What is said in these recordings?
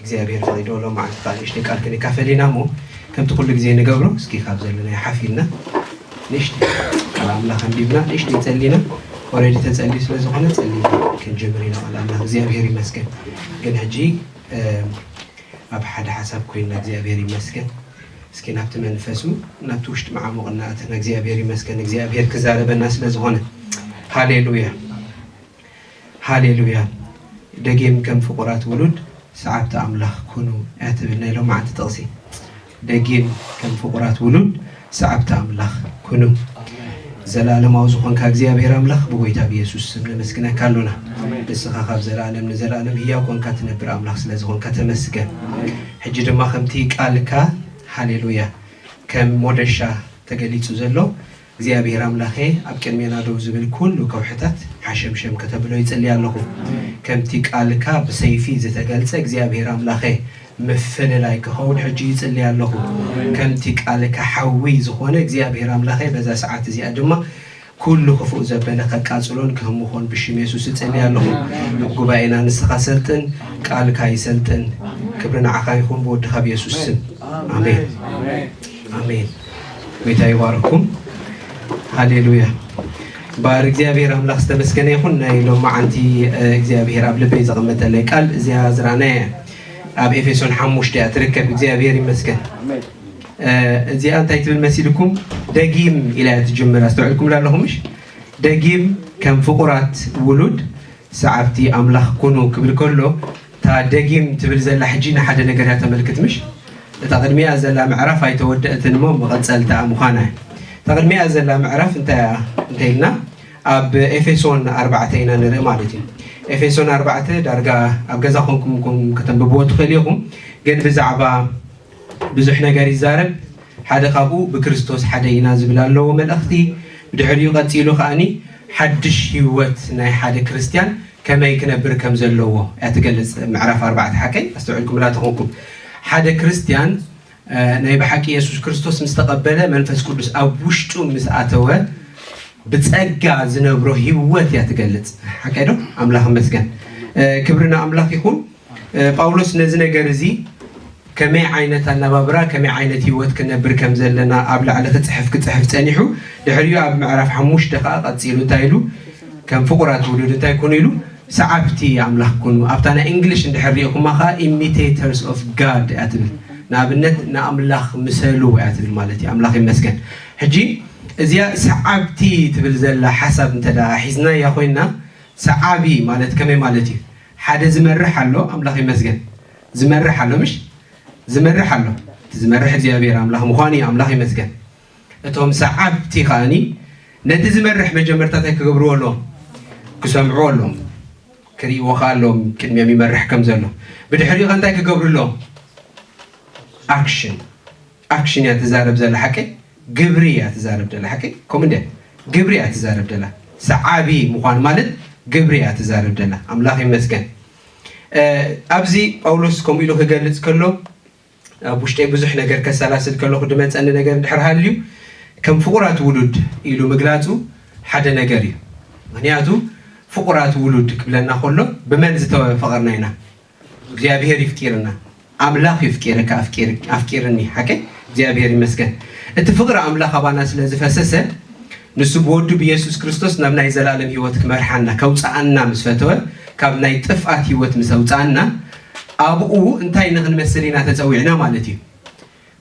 እግዚኣብሔር ፈቂዱ ሎምዓንቲ ከኣ ንእሽተይ ቃል ክንካፈል ኢና እሞ ከምቲ ኩሉ ግዜ ንገብሮ እስኪ ካብ ዘለናዮ ሓፍ ኢልና ንእሽተይ ቃል ኣምላኽ ኣንቢብና ንእሽተይ ጸሊና ኦረዲ ተጸልዩ ስለ ዝኾነ ጸሊና ክንጅምር ኢና ቃል ኣምላኽ እግዚኣብሔር ይመስገን ግን ሕጂ ኣብ ሓደ ሓሳብ ኮይና እግዚኣብሔር ይመስገን እስኪ ናብቲ መንፈሱ ናብቲ ውሽጢ መዓሙቕ እናእተና እግዚኣብሔር ይመስገን እግዚኣብሔር ክዛረበና ስለ ዝኾነ ሃሌሉያ ሃሌሉያ ደጊም ከም ፍቁራት ውሉድ ሰዓብቲ ኣምላኽ ኩኑ እያ ትብል ናይ ሎማዓንቲ ጥቅሲ ደጊም ከም ፍቁራት ውሉድ ሰዓብቲ ኣምላኽ ኩኑ ዘላለማዊ ዝኾንካ እግዚኣብሔር ኣምላኽ ብጎይታ ብየሱስ ስም ነመስግነካ ኣሎና ንስኻ ካብ ዘላለም ንዘላለም ህያው ኮንካ ትነብር ኣምላኽ ስለ ዝኾንካ ተመስገን ሕጂ ድማ ከምቲ ቃልካ ሃሌሉያ ከም ሞደሻ ተገሊጹ ዘሎ እግዚኣብሔር ኣምላኬ ኣብ ቅድሜና ደው ዝብል ኩሉ ከውሕታት ሓሸምሸም ከተብሎ ይጽሊ ኣለኩ ከምቲ ቃልካ ብሰይፊ ዝተገልጸ እግዚኣብሔር ኣምላኬ ምፍልላይ ክከውን ሕጂ ይጽሊ ኣለኩ ከምቲ ቃልካ ሓዊ ዝኮነ እግዚኣብሔር ኣምላኬ በዛ ሰዓት እዚኣ ድማ ኩሉ ክፉእ ዘበለ ከቃጽሎን ክህምኮን ብሽም የሱስ እጽሊ ኣለኩ ኣብ ጉባኤና ንስካ ሰልጥን ቃልካ ይሰልጥን ክብሪ ንዓካ ይኩን ብወድካ ብየሱስ ስም ኣሜን ኣሜን። ጎይታ ይባርኩም ሃሌሉያ ባር እግዚኣብሔር ኣምላኽ ዝተመስገነ ይኹን ናይ ሎማዓንቲ እግዚኣብሔር ኣብ ልበይ ዘቐመጠለይ ቃል እዚኣ ዝረኣናያ እያ ኣብ ኤፌሶን ሓሙሽተ እያ ትርከብ እግዚኣብሔር ይመስገን እዚኣ እንታይ ትብል መሲልኩም ደጊም ኢላ እያ ትጅምር ኣስተውዕልኩም ላለኹምሽ ደጊም ከም ፍቑራት ውሉድ ሰዓብቲ ኣምላኽ ኩኑ ክብል ከሎ እታ ደጊም ትብል ዘላ ሕጂ ንሓደ ነገር እያ ተመልክት ምሽ? እታ ቅድሚኣ ዘላ ምዕራፍ ኣይተወደእትን እሞ መቐጸልታኣ ምዃና እያ። እታ ቅድሚኣ ዘላ ምዕራፍ እንታይ እያ እንተ ኢልና ኣብ ኤፌሶን ኣርባዕተ ኢና ንርኢ ማለት እዩ። ኤፌሶን ኣርባዕተ ዳርጋ ኣብ ገዛ ኮንኩም ከተንብብዎ ትኽእሉ ኢኹም ግን ብዛዕባ ብዙሕ ነገር ይዛረብ ሓደ ካብኡ ብክርስቶስ ሓደ ኢና ዝብል ኣለዎ መልእኽቲ ብድሕሪኡ ቀጺሉ ከኣ ሓድሽ ሂወት ናይ ሓደ ክርስትያን ከመይ ክነብር ከም ዘለዎ እያ ትገልጽ ምዕራፍ ኣርባዕተ ሓቀይ ኣስተውዕልኩምላ ተኾንኩም ሓደ ክርስትያን ናይ ብሓቂ የሱስ ክርስቶስ ምስ ተቐበለ መንፈስ ቅዱስ ኣብ ውሽጡ ምስ ኣተወ ብጸጋ ዝነብሮ ሂወት እያ ትገልጽ ሓቀይ ዶ ኣምላኽ መስገን ክብሪ ንኣምላኽ ይኹን ጳውሎስ ነዚ ነገር እዚ ከመይ ዓይነት ኣነባብራ ከመይ ዓይነት ህይወት ክነብር ከም ዘለና ኣብ ላዕሊ ክፅሕፍ ክፅሕፍ ፀኒሑ ድሕሪኡ ኣብ ምዕራፍ ሓሙሽተ ከዓ ቀፂሉ እንታይ ኢሉ ከም ፍቁራት ውሉድ እንታይ ኩኑ ኢሉ ሰዓብቲ ኣምላኽ ኩኑ ኣብታ ናይ እንግሊሽ እንድሕር ሪኢኹማ ከዓ ኢሚቴተርስ ኦፍ ጋድ እያ ትብል ንኣብነት ንኣምላኽ ምሰሉ እያ ትብል ማለት እዩ ኣምላኽ ይመስገን ሕጂ እዚያ ሰዓብቲ ትብል ዘላ ሓሳብ እንተ ሒዝናያ ኮይና ሰዓቢ ማለት ከመይ ማለት እዩ ሓደ ዝመርሕ ኣሎ ኣምላኽ ይመስገን ዝመርሕ ኣሎ ምሽ ዝመርሕ ኣሎ እቲ ዝመርሕ እግዚኣብሔር ኣምላኽ ምዃኑ እዩ ኣምላኽ ይመስገን እቶም ሰዓብቲ ከዓኒ ነቲ ዝመርሕ መጀመርታ እንታይ ክገብርዎ ኣለዎም ክሰምዕዎ ኣለዎም ክርእይዎ ከዓ ኣለዎም ቅድሚኦም ይመርሕ ከም ዘሎ ብድሕሪኡ ከ እንታይ ክገብሩ ኣለዎም ኣክሽን ኣክሽን እያ ትዛረብ ዘላ ሓቂ ግብሪ እያ ትዛረብ ደላ ሓቂ ከምኡ እንድያ ግብሪ እያ ትዛረብ ደላ ሰዓቢ ምዃን ማለት ግብሪ እያ ትዛረብ ደላ ኣምላኽ ይመስገን ኣብዚ ጳውሎስ ከምኡ ኢሉ ክገልጽ ከሎ ኣብ ውሽጠይ ብዙሕ ነገር ከሰላስል ከለኹ ድመፀኒ ነገር እንድሕር ሃልዩ ከም ፍቑራት ውሉድ ኢሉ ምግላጹ ሓደ ነገር እዩ ምክንያቱ ፍቑራት ውሉድ ክብለና ከሎ ብመን ዝተፈቐርና ኢና እግዚኣብሔር ይፍቂርና ኣምላክ ይፍቂርካ ኣፍቂርኒ ሓቀይ እግዚኣብሔር ይመስገን እቲ ፍቅሪ ኣምላክ ኣባና ስለ ዝፈሰሰ ንሱ ብወዱ ብየሱስ ክርስቶስ ናብ ናይ ዘላለም ህይወት ክመርሓና ከውፃኣና ምስ ፈተወ ካብ ናይ ጥፍኣት ህይወት ምስ ኣውፃኣና ኣብኡ እንታይ ንክንመስል ኢና ተፀዊዕና ማለት እዩ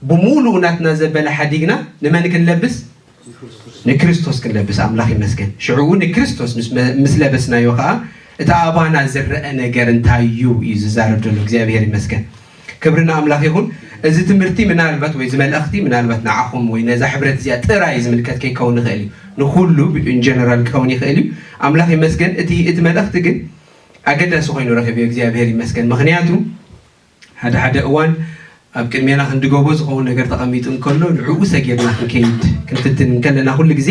ብሙሉኡ ናትና ዘበለ ሓዲግና ንመን ክንለብስ ንክርስቶስ ክንለብስ ኣምላኽ ይመስገን ሽዑ ንክርስቶስ ምስ ለበስናዮ ከኣ እቲ ኣባና ዝረኣ ነገር እንታይ እዩ እዩ ዝዛረብ ዘሎ እግዚኣብሔር ይመስገን ክብሪ ንኣምላኽ ይኹን እዚ ትምህርቲ ምናልባት ወይ ዝመልእኽቲ ምናልባት ንዓኹም ወይ ነዛ ሕብረት እዚኣ ጥራይ ዝምልከት ከይከውን ይኽእል እዩ ንኩሉ ኢንጀነራል ክኸውን ይኽእል እዩ ኣምላኽ ይመስገን እቲ እቲ መልእኽቲ ግን ኣገዳሲ ኮይኑ ረኺብዮ እግዚኣብሔር ይመስገን ምክንያቱ ሓደ ሓደ እዋን ኣብ ቅድሜና ክንድገቦ ዝኸውን ነገር ተቐሚጡ እንከሎ ንዕኡ ሰጊርና ክንከይድ ክንፍትን እንከለና ኩሉ ግዜ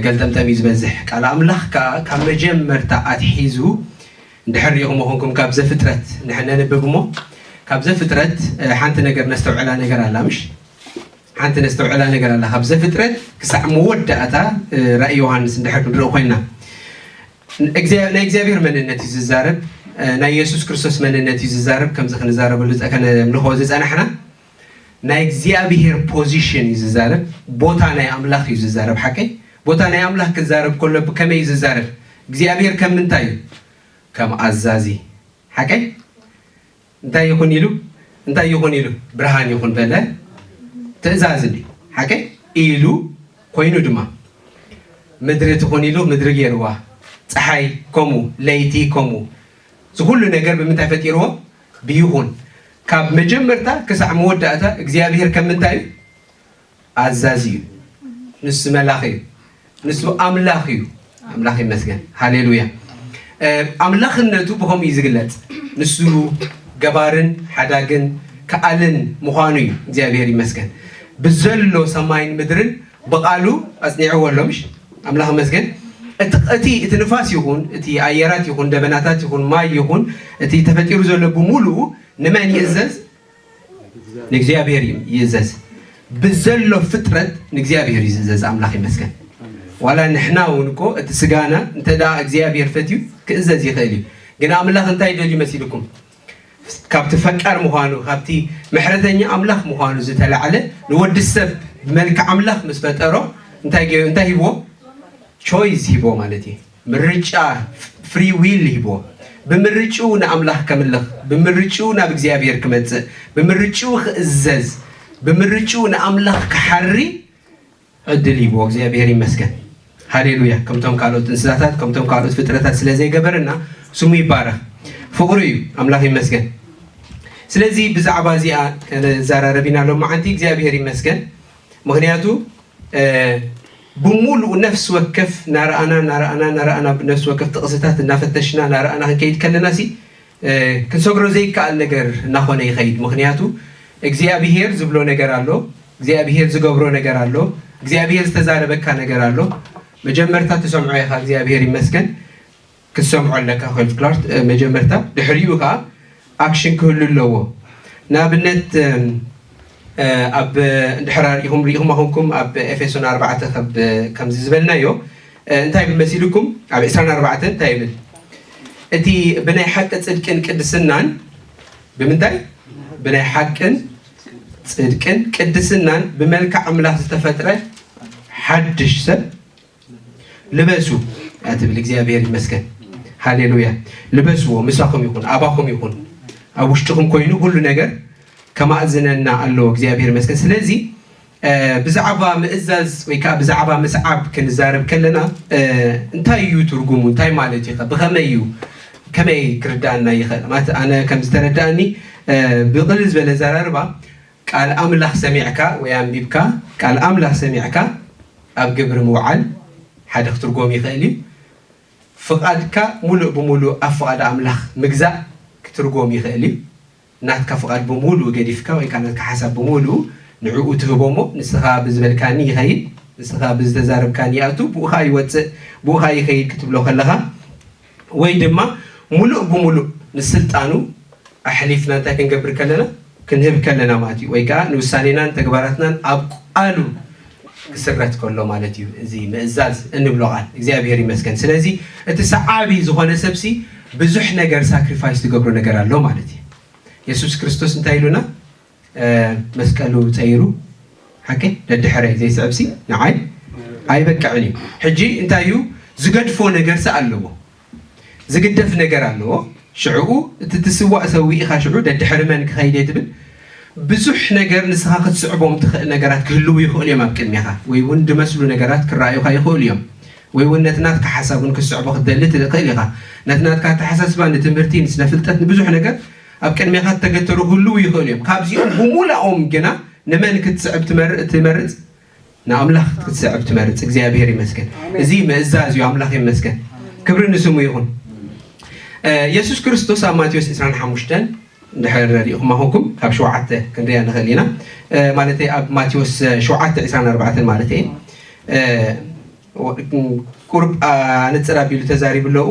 ገልጠምጠም እዩ ዝበዝሕ። ቃል ኣምላኽ ከኣ ካብ መጀመርታ ኣትሒዙ እንድሕር ርኢኹሞ ኹንኩም ካብ ዘፍጥረት ንሕ ነንብብ እሞ ካብ ዘፍጥረት ሓንቲ ነገር ነስተውዕላ ነገር ኣላ ምሽ ሓንቲ ነስተውዕላ ነገር ኣላ ካብ ዘፍጥረት ክሳዕ መወዳእታ ራእይ ዮሃንስ እንድሕር ክንርኢ ኮይና ናይ እግዚኣብሔር መንነት እዩ ዝዛረብ ናይ የሱስ ክርስቶስ መንነት እዩ ዝዛረብ ከምዚ ክንዛረበሉ ከነምልኾ ዝጸናሕና ናይ እግዚኣብሔር ፖዚሽን እዩ ዝዛረብ ቦታ ናይ ኣምላኽ እዩ ዝዛረብ ሓቀይ ቦታ ናይ ኣምላኽ ክዛረብ ከሎ ብከመይ እዩ ዝዛረብ እግዚኣብሔር ከም ምንታይ እዩ ከም ኣዛዚ ሓቀይ እንታይ ይኹን ኢሉ እንታይ ይኹን ኢሉ ብርሃን ይኹን በለ ትእዛዝ እንዲ ሓቀይ ኢሉ ኮይኑ ድማ ምድሪ ትኹን ኢሉ ምድሪ ገይርዋ ፀሓይ ከምኡ ለይቲ ከምኡ ዝኩሉ ነገር ብምንታይ ፈጢርዎ ብይኹን ካብ መጀመርታ ክሳዕ መወዳእታ እግዚኣብሄር ከም ምንታይ እዩ ኣዛዚ እዩ ንሱ መላኺ እዩ ንሱ ኣምላኽ እዩ ኣምላኽ ይመስገን ሃሌሉያ ኣምላኽነቱ ብከምኡ እዩ ዝግለጽ ንሱ ገባርን ሓዳግን ከኣልን ምዃኑ እዩ እግዚኣብሔር ይመስገን ብዘሎ ሰማይን ምድርን ብቃሉ ኣጽኒዕዎ ኣሎ ምሽ ኣምላኽ ይመስገን እቲ እቲ ንፋስ ይኹን እቲ ኣየራት ይኹን ደበናታት ይኹን ማይ ይኹን እቲ ተፈጢሩ ዘሎ ብምሉኡ ንመን ይእዘዝ ንእግዚኣብሔር እዩ ይእዘዝ ብዘሎ ፍጥረት ንእግዚኣብሔር እዩ ዝእዘዝ ኣምላኽ ይመስገን ዋላ ንሕና እውን እኮ እቲ ስጋና እንተ እግዚኣብሔር ፈትዩ ክእዘዝ ይኽእል እዩ ግን ኣምላኽ እንታይ ደልዩ መሲልኩም ካብቲ ፈቃር ምዃኑ ካብቲ ምሕረተኛ ኣምላኽ ምዃኑ ዝተላዕለ ንወዲ ሰብ ብመልክዕ ኣምላኽ ምስ ፈጠሮ እንታይ እንታይ ሂብዎ ቾይዝ ሂብዎ ማለት እዩ ምርጫ፣ ፍሪ ዊል፣ ሂብዎ። ብምርጭኡ ንኣምላኽ ከምልኽ፣ ብምርጭኡ ናብ እግዚኣብሔር ክመጽእ፣ ብምርጭኡ ክእዘዝ፣ ብምርጭኡ ንኣምላኽ ክሓሪ ዕድል ሂብዎ። እግዚኣብሔር ይመስገን። ሃሌሉያ ከምቶም ካልኦት እንስሳታት ከምቶም ካልኦት ፍጥረታት ስለ ዘይገበረና ስሙ ይባረኽ ፍቅሩ እዩ ኣምላኽ ይመስገን ስለዚ ብዛዕባ እዚኣ ከነዘራረብ ኢና ሎመዓንቲ እግዚኣብሄር ይመስገን ምክንያቱ ብሙሉኡ ነፍሲ ወከፍ ናረኣና ናረኣና ናረኣና ብነፍሲ ወከፍ ጥቕስታት እናፈተሽና ናረኣና ክንከይድ ከለናሲ ክንሰግሮ ዘይከኣል ነገር እናኾነ ይኸይድ ምኽንያቱ እግዚኣብሄር ዝብሎ ነገር ኣሎ እግዚኣብሄር ዝገብሮ ነገር ኣሎ እግዚኣብሄር ዝተዛረበካ ነገር ኣሎ መጀመርታ ትሰምዖ ኢኻ እግዚኣብሄር ይመስገን ክትሰምዖ ኣለካ ኮይልድ ክላርት መጀመርታ ድሕሪኡ ከኣ ኣክሽን ክህሉ ኣለዎ ንኣብነት ኣብ እንድሕር ኣርኢኹም ርኢኹም ኣኹንኩም ኣብ ኤፌሶን ኣርባዕተ ከብ ከምዚ ዝበልናዮ እንታይ ብል መሲልኩም ኣብ ዕስራን ኣርባዕተን እንታይ ይብል እቲ ብናይ ሓቂ ጽድቅን ቅድስናን ብምንታይ ብናይ ሓቅን ጽድቅን ቅድስናን ብመልክዕ ኣምላኽ ዝተፈጥረ ሓድሽ ሰብ ልበሱ ኣትብል እግዚኣብሔር ይመስገን ሃሌሉያ ልበስዎ ምሳኹም ይኹን ኣባኹም ይኹን ኣብ ውሽጥኹም ኮይኑ ኩሉ ነገር ከማእዝነና ኣለዎ እግዚኣብሔር ይመስገን ስለዚ ብዛዕባ ምእዛዝ ወይ ከዓ ብዛዕባ ምስዓብ ክንዛረብ ከለና እንታይ እዩ ትርጉሙ እንታይ ማለት እዩ ብኸመይ እዩ ከመይ ክርዳእና ይኽእል ማለት ኣነ ከም ዝተረዳእኒ ብቕልል ዝበለ ዘራርባ ቃል ኣምላኽ ሰሚዕካ ወይ ኣንቢብካ ቃል ኣምላኽ ሰሚዕካ ኣብ ግብሪ ምውዓል ሓደ ክትርጎም ይኽእል እዩ። ፍቓድካ ምሉእ ብምሉእ ኣብ ፍቓድ ኣምላኽ ምግዛእ ክትርጎም ይኽእል እዩ። ናትካ ፍቓድ ብምሉኡ ገዲፍካ ወይ ከኣ ናትካ ሓሳብ ብምሉኡ ንዕኡ ትህቦ እሞ ንስኻ ብዝበልካኒ ይኸይድ ንስኻ ብዝተዛረብካኒ ይኣቱ ብኡ ከኣ ይወጽእ ብኡ ከኣ ይኸይድ ክትብሎ ከለኻ ወይ ድማ ምሉእ ብምሉእ ንስልጣኑ ኣሕሊፍና እንታይ ክንገብር ከለና ክንህብ ከለና ማለት እዩ ወይ ከዓ ንውሳኔናን ተግባራትናን ኣብ ቃሉ ክስረት ከሎ ማለት እዩ እዚ ምእዛዝ እንብሎ ቃል እግዚኣብሔር ይመስገን ስለዚ እቲ ሰዓቢ ዝኾነ ሰብሲ ብዙሕ ነገር ሳክሪፋይስ ትገብሮ ነገር ኣሎ ማለት እዩ የሱስ ክርስቶስ እንታይ ኢሉና መስቀሉ ጸይሩ ሓቀይ ደድሕረይ ዘይስዕብሲ ንዓይ ኣይበቅዕን እዩ ሕጂ እንታይ እዩ ዝገድፎ ነገርሲ ኣለዎ ዝግደፍ ነገር ኣለዎ ሽዕኡ እቲ ትስዋእ ሰዊእኻ ሽዑ ደድሕሪ መን ክኸይድ እየ ትብል ብዙሕ ነገር ንስኻ ክትስዕቦም ትኽእል ነገራት ክህልው ይኽእሉ እዮም ኣብ ቅድሜኻ ወይ እውን ድመስሉ ነገራት ክረኣዩኻ ይኽእሉ እዮም ወይ እውን ነቲ ናትካ ሓሳብ እውን ክትስዕቦ ክትደሊ ትኽእል ኢኻ ነቲ ናትካ ኣተሓሳስባ ንትምህርቲ ንስነ ፍልጠት ንብዙሕ ነገር ኣብ ቅድሜኻ እተገተሩ ክህልዉ ይኽእሉ እዮም፣ ካብዚኦም ብምሉኣኦም ግና ንመን ክትስዕብ ትመርጽ? ንኣምላኽ ክትስዕብ ትመርጽ። እግዚኣብሄር ይመስገን! እዚ ምእዛዝ እዩ። ኣምላኽ ይመስገን! ክብሪ ንስሙ ይኹን። የሱስ ክርስቶስ ኣብ ማቴዎስ ዕስራን ሓሙሽተን እንድሕር ርኢኹም ኣኹኩም ካብ ሸውዓተ ክንሪኣ ንኽእል ኢና ማለተይ ኣብ ማቴዎስ ሸውዓተ ዕስራን ኣርባዕተን ማለት እየ ቁርብ ኣነጽር ኣቢሉ ተዛሪቡ ኣለዉ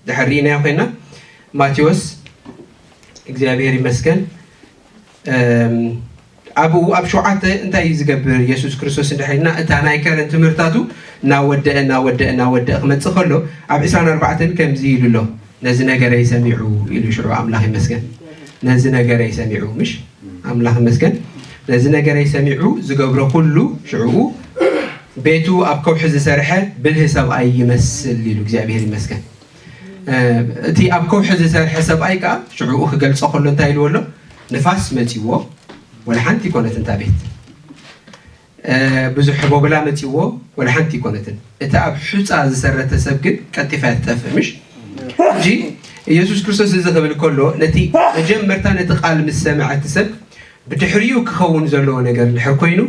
ድሕር ርኢናዮ ኮይና ማቴዎስ እግዚኣብሔር ይመስገን ኣብኡ ኣብ ሸውዓተ እንታይ እዩ ዝገብር የሱስ ክርስቶስ እንድሕልና እታ ናይ ከረን ትምህርታቱ እናወደአ እናወደአ እናወደአ ክመፅእ ከሎ ኣብ 24 ከምዚ ኢሉ ኣሎ ነዚ ነገረይ ሰሚዑ ኢሉ ሽዑ ኣምላኽ ይመስገን ነዚ ነገረይ ሰሚዑ ምሽ ኣምላኽ ይመስገን ነዚ ነገረይ ሰሚዑ ዝገብሮ ኩሉ ሽዕኡ ቤቱ ኣብ ከውሒ ዝሰርሐ ብልህ ሰብኣይ ይመስል ኢሉ እግዚኣብሔር ይመስገን እቲ ኣብ ከውሒ ዝሰርሐ ሰብኣይ ከኣ ሽዑኡ ክገልጾ ከሎ እንታይ ኢልዎ ኣሎ ንፋስ መጺዎ ወላ ሓንቲ ኮነትን እታ ቤት ብዙሕ ቦብላ መጺዎ ወላ ሓንቲ ኮነትን እቲ ኣብ ሑፃ ዝሰረተ ሰብ ግን ቀልጢፋ እያ ትጠፍእ ምሽ እንጂ ኢየሱስ ክርስቶስ እዚ ክብል ከሎ ነቲ መጀመርታ ነቲ ቃል ምስ ሰምዐ እቲ ሰብ ብድሕሪኡ ክኸውን ዘለዎ ነገር ድሕር ኮይኑ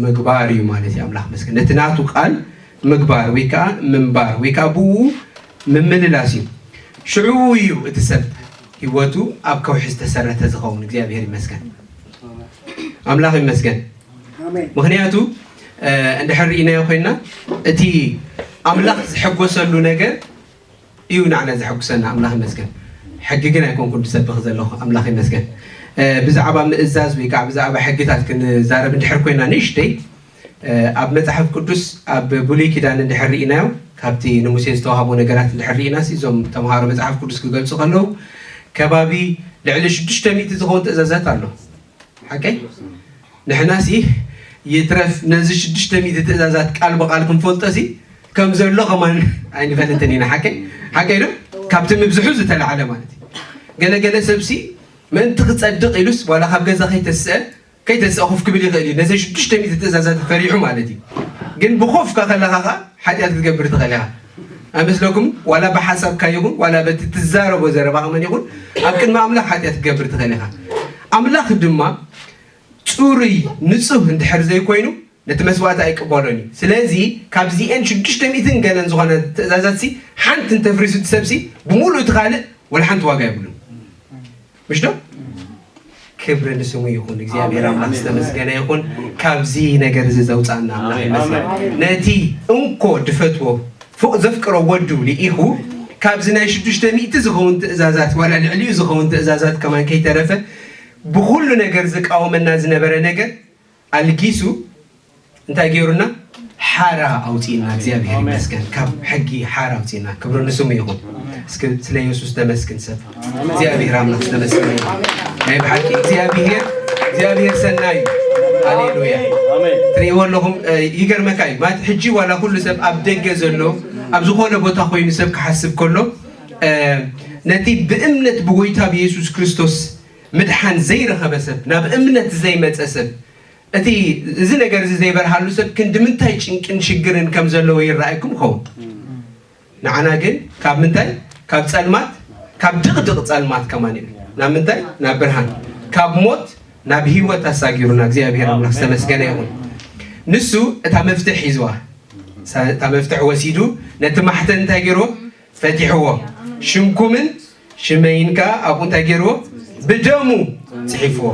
ምግባር እዩ ማለት እዩ ኣምላኽ መስገን ነቲ ናቱ ቃል ምግባር ወይ ከዓ ምንባር ወይ ከዓ ብኡ ምምልላስ እዩ ሽዑ እዩ እቲ ሰብ ህይወቱ ኣብ ከውሒ ዝተሰረተ ዝኸውን እግዚኣብሔር ይመስገን ኣምላኽ ይመስገን ምክንያቱ እንድሕር ርኢናዮ ኮይና እቲ ኣምላኽ ዝሐጎሰሉ ነገር እዩ ናዓና ዘሐጉሰና ኣምላኽ ይመስገን ሕጊ ግን ኣይኮንኩን ድሰብኽ ዘለኹ ኣምላኽ ይመስገን ብዛዕባ ምእዛዝ ወይ ካዓ ብዛዕባ ሕግታት ክንዛረብ እንድሕር ኮይና ንእሽተይ ኣብ መጽሓፍ ቅዱስ ኣብ ብሉይ ኪዳን እንድሕር ርኢናዮ ካብቲ ንሙሴ ዝተዋህቦ ነገራት እንድሕር ርኢና እዞም ተምሃሮ መጽሓፍ ቅዱስ ክገልጹ ከለዉ ከባቢ ልዕሊ ሽዱሽተ ሚእቲ ዝኸውን ትእዛዛት ኣሎ ሓቀይ ንሕናሲ ይትረፍ ነዚ ሽዱሽተ ሚእቲ ትእዛዛት ቃል ብቃል ክንፈልጦሲ ከም ዘሎ ከማን ኣይንፈልጥን ኢና ሓቀይ ሓቀይ ዶ ካብቲ ምብዝሑ ዝተላዕለ ማለት እዩ ገለ ገለ ሰብሲ ምእንቲ ክጸድቕ ኢሉስ ዋላ ካብ ገዛ ከይተስአ ከይተስአ ኮፍ ክብል ይኽእል እዩ ነዘን ሽዱሽተ ሚእቲ ትእዛዛት ፈሪሑ ማለት እዩ ግን ብኮፍካ ከለኻ ከዓ ሓጢኣት ክትገብር ትኽእል ኢኻ ኣይመስለኩምን? ዋላ ብሓሳብካ ይኹን ዋላ በቲ ትዛረቦ ዘረባ ከመን ይኹን ኣብ ቅድሚ ኣምላኽ ሓጢኣት ክትገብር ትኽእል ኢኻ። ኣምላኽ ድማ ጽሩይ ንጹህ እንድሕር ዘይኮይኑ ነቲ መስዋእቲ ኣይቅበሎን እዩ። ስለዚ ካብዚኤን ሽዱሽተ ሚእትን ገለን ዝኾነ ትእዛዛትሲ ሓንቲ እንተፍሪሱ እቲ ሰብሲ ብምሉእ እቲ ካልእ ወላ ሓንቲ ዋጋ የብሉን። ምሽ ዶ ክብሪ ንስሙ ይኹን እግዚኣብሔር ኣምላክ ዝተመስገነ ይኹን ካብዚ ነገር እዚ ዘውፃና ኣምላክ ይመስገን ነቲ እንኮ ድፈትዎ ፎቅ ዘፍቅሮ ወዱ ልኢኹ ካብዚ ናይ ሽዱሽተ ሚእቲ ዝኸውን ትእዛዛት ዋላ ልዕሊኡ ዝኸውን ትእዛዛት ከማን ከይተረፈ ብኩሉ ነገር ዝቃወመና ዝነበረ ነገር ኣልጊሱ እንታይ ገይሩና ሓራ ኣውፂእና እግዚኣብሔር ይመስገን ካብ ሕጊ ሓራ ኣውፂእና ክብሩ ንስሙ ይኹን እስኪ ስለ የሱስ ተመስግን ሰብ እግዚኣብሔር ኣምላክ ተመስግን ናይ ብሓቂ እግዚኣብሔር እግዚኣብሔር ሰናይ ሃሌሉያ ትርእይዎ ኣለኹም ይገርመካ እዩ ማለት ሕጂ ዋላ ኩሉ ሰብ ኣብ ደገ ዘሎ ኣብ ዝኾነ ቦታ ኮይኑ ሰብ ክሓስብ ከሎ ነቲ ብእምነት ብጎይታ ብየሱስ ክርስቶስ ምድሓን ዘይረኸበ ሰብ፣ ናብ እምነት ዘይመጸ ሰብ፣ እቲ እዚ ነገር እዚ ዘይበርሃሉ ሰብ ክንድምንታይ ጭንቅን ሽግርን ከም ዘለዎ ይረኣየኩም ይኸውን። ንዓና ግን ካብ ምንታይ ካብ ጸልማት ካብ ድቕድቕ ጸልማት ከማን ኢሉ ናብ ምንታይ ናብ ብርሃን ካብ ሞት ናብ ህይወት ኣሳጊሩና እግዚኣብሔር ኣምላኽ ዝተመስገነ ይኹን። ንሱ እታ መፍትሕ ሒዝዋ እታ መፍትሕ ወሲዱ ነቲ ማሕተን እንታይ ገይርዎ ፈቲሕዎ ሽምኩምን ሽመይን ከኣ ኣብኡ እንታይ ገይርዎ ብደሙ ጽሒፍዎ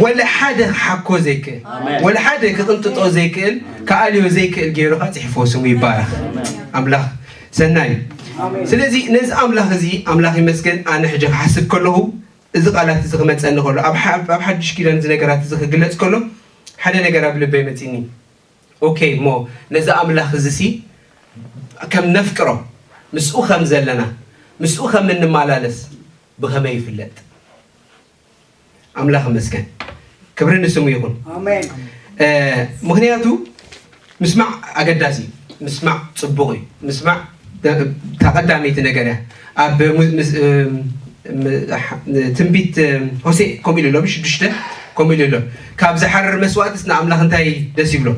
ወላ ሓደ ክሓኮ ዘይክእል ወላ ሓደ ክቕንጥጦ ዘይክእል ክኣልዮ ዘይክእል ገይሩ ከኣ ጽሒፍዎ ስሙ ይባረኽ ኣምላኽ ሰናይ እዩ ስለዚ ነዚ ኣምላኽ እዚ ኣምላኽ ይመስገን ኣነ ሕጂ ክሓስብ ከለኹ እዚ ቃላት እዚ ክመፀኒ ከሎ ኣብ ሓድሽ ኪዳን እዚ ነገራት እዚ ክግለፅ ከሎ ሓደ ነገር ኣብ ልበይ መፂኒ ኦኬ እሞ ነዚ ኣምላኽ እዚሲ ከም ነፍቅሮ፣ ምስኡ ኸም ዘለና፣ ምስኡ ኸም እንማላለስ ብኸመይ ይፍለጥ? ኣምላኽ ይመስገን፣ ክብሪ ንስሙ ይኹን። ምኽንያቱ ምስማዕ ኣገዳሲ እዩ፣ ምስማዕ ጽቡቕ እዩ፣ ምስማዕ እታ ቀዳመይቲ ነገር እያ ኣብ ትንቢት ሆሴእ ከምኡ ኢሉ ኣሎ ብሽዱሽተ ከምኡ ኢሉ ኣሎ ካብ ዝሓርር መስዋእትስ ንኣምላኽ እንታይ ደስ ይብሎ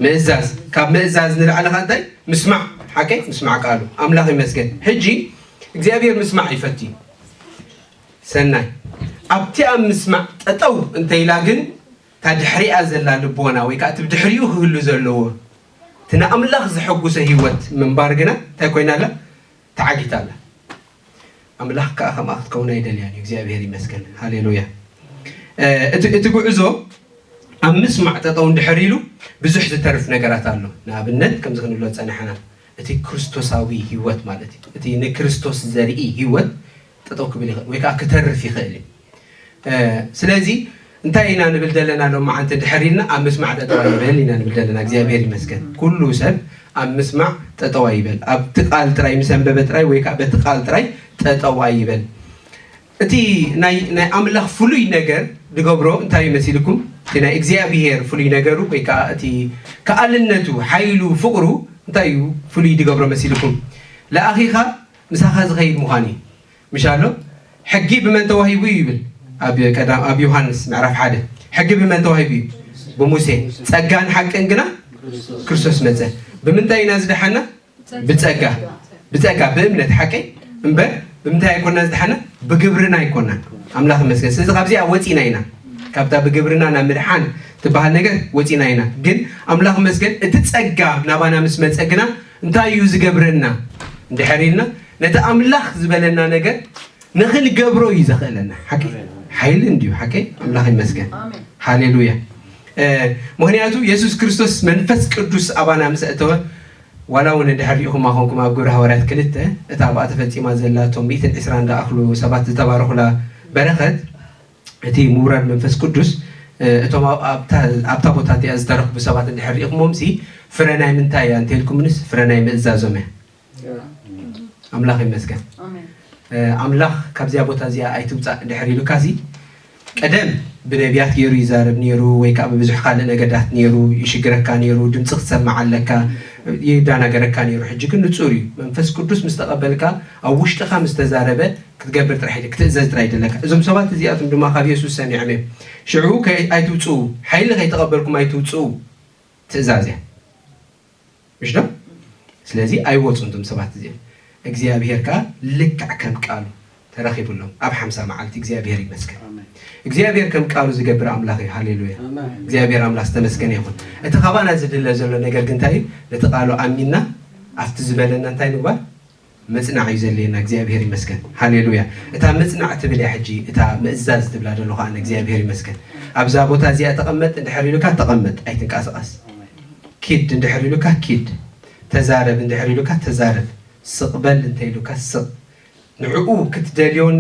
ምእዛዝ ካብ ምእዛዝ ንላዕሊ ኸ እንታይ ምስማዕ ሓቀይ ምስማዕ ቃሉ ኣምላኽ ይመስገን ሕጂ እግዚኣብሔር ምስማዕ ይፈቱ እዩ ሰናይ ኣብቲ ኣብ ምስማዕ ጠጠው እንተኢላ ግን እታ ድሕሪኣ ዘላ ልቦና ወይ ከኣ እቲ ብድሕሪኡ ክህሉ ዘለዎ እቲ ንኣምላኽ ዘሐጕሶ ህይወት ምንባር ግና እንታይ ኰይና ኣላ? ተዓጊታ ኣላ። ኣምላኽ ከኣ ከምኣ ክትከውን ኣይደልያን እዩ። እግዚኣብሄር ይመስገን። ሃሌሉያ! እቲ እቲ ጕዕዞ ኣብ ምስማዕ ጠጠው እንድሕር ኢሉ ብዙሕ ዝተርፍ ነገራት ኣሎ። ንኣብነት ከምዚ ክንብሎ ዝጸናሕና እቲ ክርስቶሳዊ ህይወት ማለት እዩ። እቲ ንክርስቶስ ዘርኢ ህይወት ጠጠው ክብል ይኽእል ወይ ከዓ ክተርፍ ይኽእል እዩ። ስለዚ እንታይ ኢና ንብል ዘለና ሎማዓንቲ ድሕር ኢልና ኣብ ምስማዕ ጠጠው ኣይበል ኢና ንብል ዘለና። እግዚኣብሔር ይመስገን ኩሉ ሰብ ኣብ ምስማዕ ጠጠው ኣይበል። ኣብቲ ቃል ጥራይ ምስ ኣንበበ ጥራይ ወይ ከዓ በቲ ቃል ጥራይ ጠጠው ኣይበል። እቲ ናይ ናይ ኣምላኽ ፍሉይ ነገር ድገብሮ እንታይ መሲልኩም እቲ ናይ እግዚኣብሄር ፍሉይ ነገሩ ወይ ከዓ እቲ ከኣልነቱ ሓይሉ ፍቕሩ እንታይ እዩ ፍሉይ ድገብሮ መሲልኩም ለኣኺኻ ምሳኻ ዝኸይድ ምዃን እዩ ምሻሎ ሕጊ ብመን ተዋሂቡ እዩ ይብል ኣብ ቀዳም ኣብ ዮሐንስ ምዕራፍ ሓደ ሕጊ ብመን ተዋሂቡ እዩ ብሙሴ ጸጋን ሓቅን ግና ክርስቶስ መጸ ብምንታይ ኢና ዝደሓና ብጸጋ ብጸጋ ብእምነት ሓቂ እምበር ብምንታይ ኣይኮና ዝደሓና ብግብርና ኣይኮናን ኣምላኽ ይመስገን ስለዚ ካብዚኣ ወፂና ኢና ካብታ ብግብርና ናብ ምድሓን ትበሃል ነገር ወፂና ኢና ግን ኣምላኽ መስገን እቲ ፀጋ ናባና ምስ መፀ ግና እንታይ እዩ ዝገብረና እንድሕር ኢልና ነቲ ኣምላኽ ዝበለና ነገር ንኽንገብሮ እዩ ዘኽእለና። ሓቂ ሓይሊ እንድዩ። ሓቂ ኣምላኽ ይመስገን። ሃሌሉያ። ምክንያቱ የሱስ ክርስቶስ መንፈስ ቅዱስ ኣባና ምስ እተወ ዋላ እውን እንድሕር ሪኢኹማ ኮንኩም ኣብ ግብረ ሃዋርያት ክልተ እታ ኣብኣ ተፈፂማ ዘላ እቶም ሚእትን ዕስራን ዝኣኽሉ ሰባት ዝተባረኹላ በረኸት እቲ ምውራድ መንፈስ ቅዱስ እቶም ኣብታ ቦታ እቲኣ ዝተረኽቡ ሰባት እንድሕር ርኢኹሞምሲ ፍረ ናይ ምንታይ እያ እንተልኩምንስ ፍረ ናይ ምእዛዞም እያ። ኣምላኽ ይመስገን። ኣምላኽ ካብዚኣ ቦታ እዚኣ ኣይትውፃእ እንድሕር ኢሉካሲ ቀደም ብነቢያት ገይሩ ይዛረብ ነይሩ ወይ ከዓ ብብዙሕ ካልእ ነገዳት ነይሩ ይሽግረካ ነይሩ ድምፂ ክትሰምዕ ኣለካ ይዳናገረካ ነይሩ ሕጂ ግን ንፁር እዩ መንፈስ ቅዱስ ምስ ተቐበልካ ኣብ ውሽጥኻ ምስ ተዛረበ ክትገብር ጥራሕ ኢለ ክትእዘዝ ጥራይ ይደለካ እዞም ሰባት እዚኣቶም ድማ ካብ የሱስ ሰሚዖም እዮም ሽዑ ከ ኣይትውጽኡ ሓይሊ ከይተቐበልኩም ኣይትውጽኡ ትእዛዝ እያ እሽ ዶ ስለዚ ኣይወጹን እዞም ሰባት እዚኦም እግዚኣብሄር ከኣ ልክዕ ከም ቃሉ ተረኺብሎም ኣብ ሓምሳ መዓልቲ እግዚኣብሄር ይመስገን እግዚኣብሄር ከም ቃሉ ዝገብር ኣምላኽ እዩ ሃሌሉያ እግዚኣብሄር ኣምላኽ ዝተመስገነ ይኹን እቲ ካባና ዝድለ ዘሎ ነገር ግን እንታይ እዩ ነቲ ቃሉ ኣሚንና ኣብቲ ዝበለና እንታይ ምግባር ምጽናዕ እዩ ዘድልየና እግዚኣብሄር ይመስገን ሃሌሉያ እታ ምጽናዕ ትብል እያ ሕጂ እታ ምእዛዝ ትብላ ደለኹ ኣነ እግዚኣብሄር ይመስገን ኣብዛ ቦታ እዚኣ ተቐመጥ እንድሕር ኢሉካ ተቐመጥ ኣይትንቀሳቐስ ኪድ እንድሕር ኢሉካ ኪድ ተዛረብ እንድሕር ኢሉካ ተዛረብ ስቕ በል እንተኢሉካ ስቕ ንዕኡ ክትደልዮን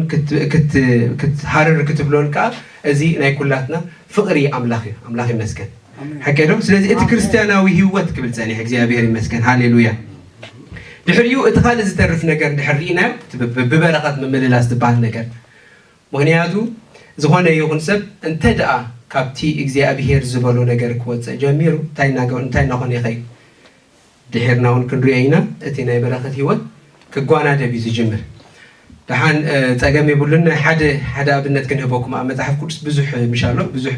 ክትሃርር ክትብሎን ከዓ እዚ ናይ ኩላትና ፍቕሪ ኣምላኽ እዩ ኣምላኽ ይመስገን ሓቀ ዶ ስለዚ እቲ ክርስትያናዊ ህይወት ክብል ፀኒሕ እግዚኣብሔር ይመስገን ሃሌሉያ ድሕሪኡ እቲ ካልእ ዝተርፍ ነገር ድሕር ርኢናዮ እቲ ብበረኸት ምምልላስ ዝበሃል ነገር ምኽንያቱ ዝኾነ ይኹን ሰብ እንተ ደኣ ካብቲ እግዚኣብሄር ዝበሎ ነገር ክወጽእ ጀሚሩ እንታይ እንታይ እናኾነ ይኸይድ ድሒርና እውን ክንሪኦ ኢና እቲ ናይ በረኸት ህይወት ክጓናደብ እዩ ዝጅምር ደሓን ፀገም የብሉን ሓደ ሓደ ኣብነት ክንህበኩም ኣብ መፅሓፍ ቅዱስ ብዙሕ ምሻሎ ብዙሕ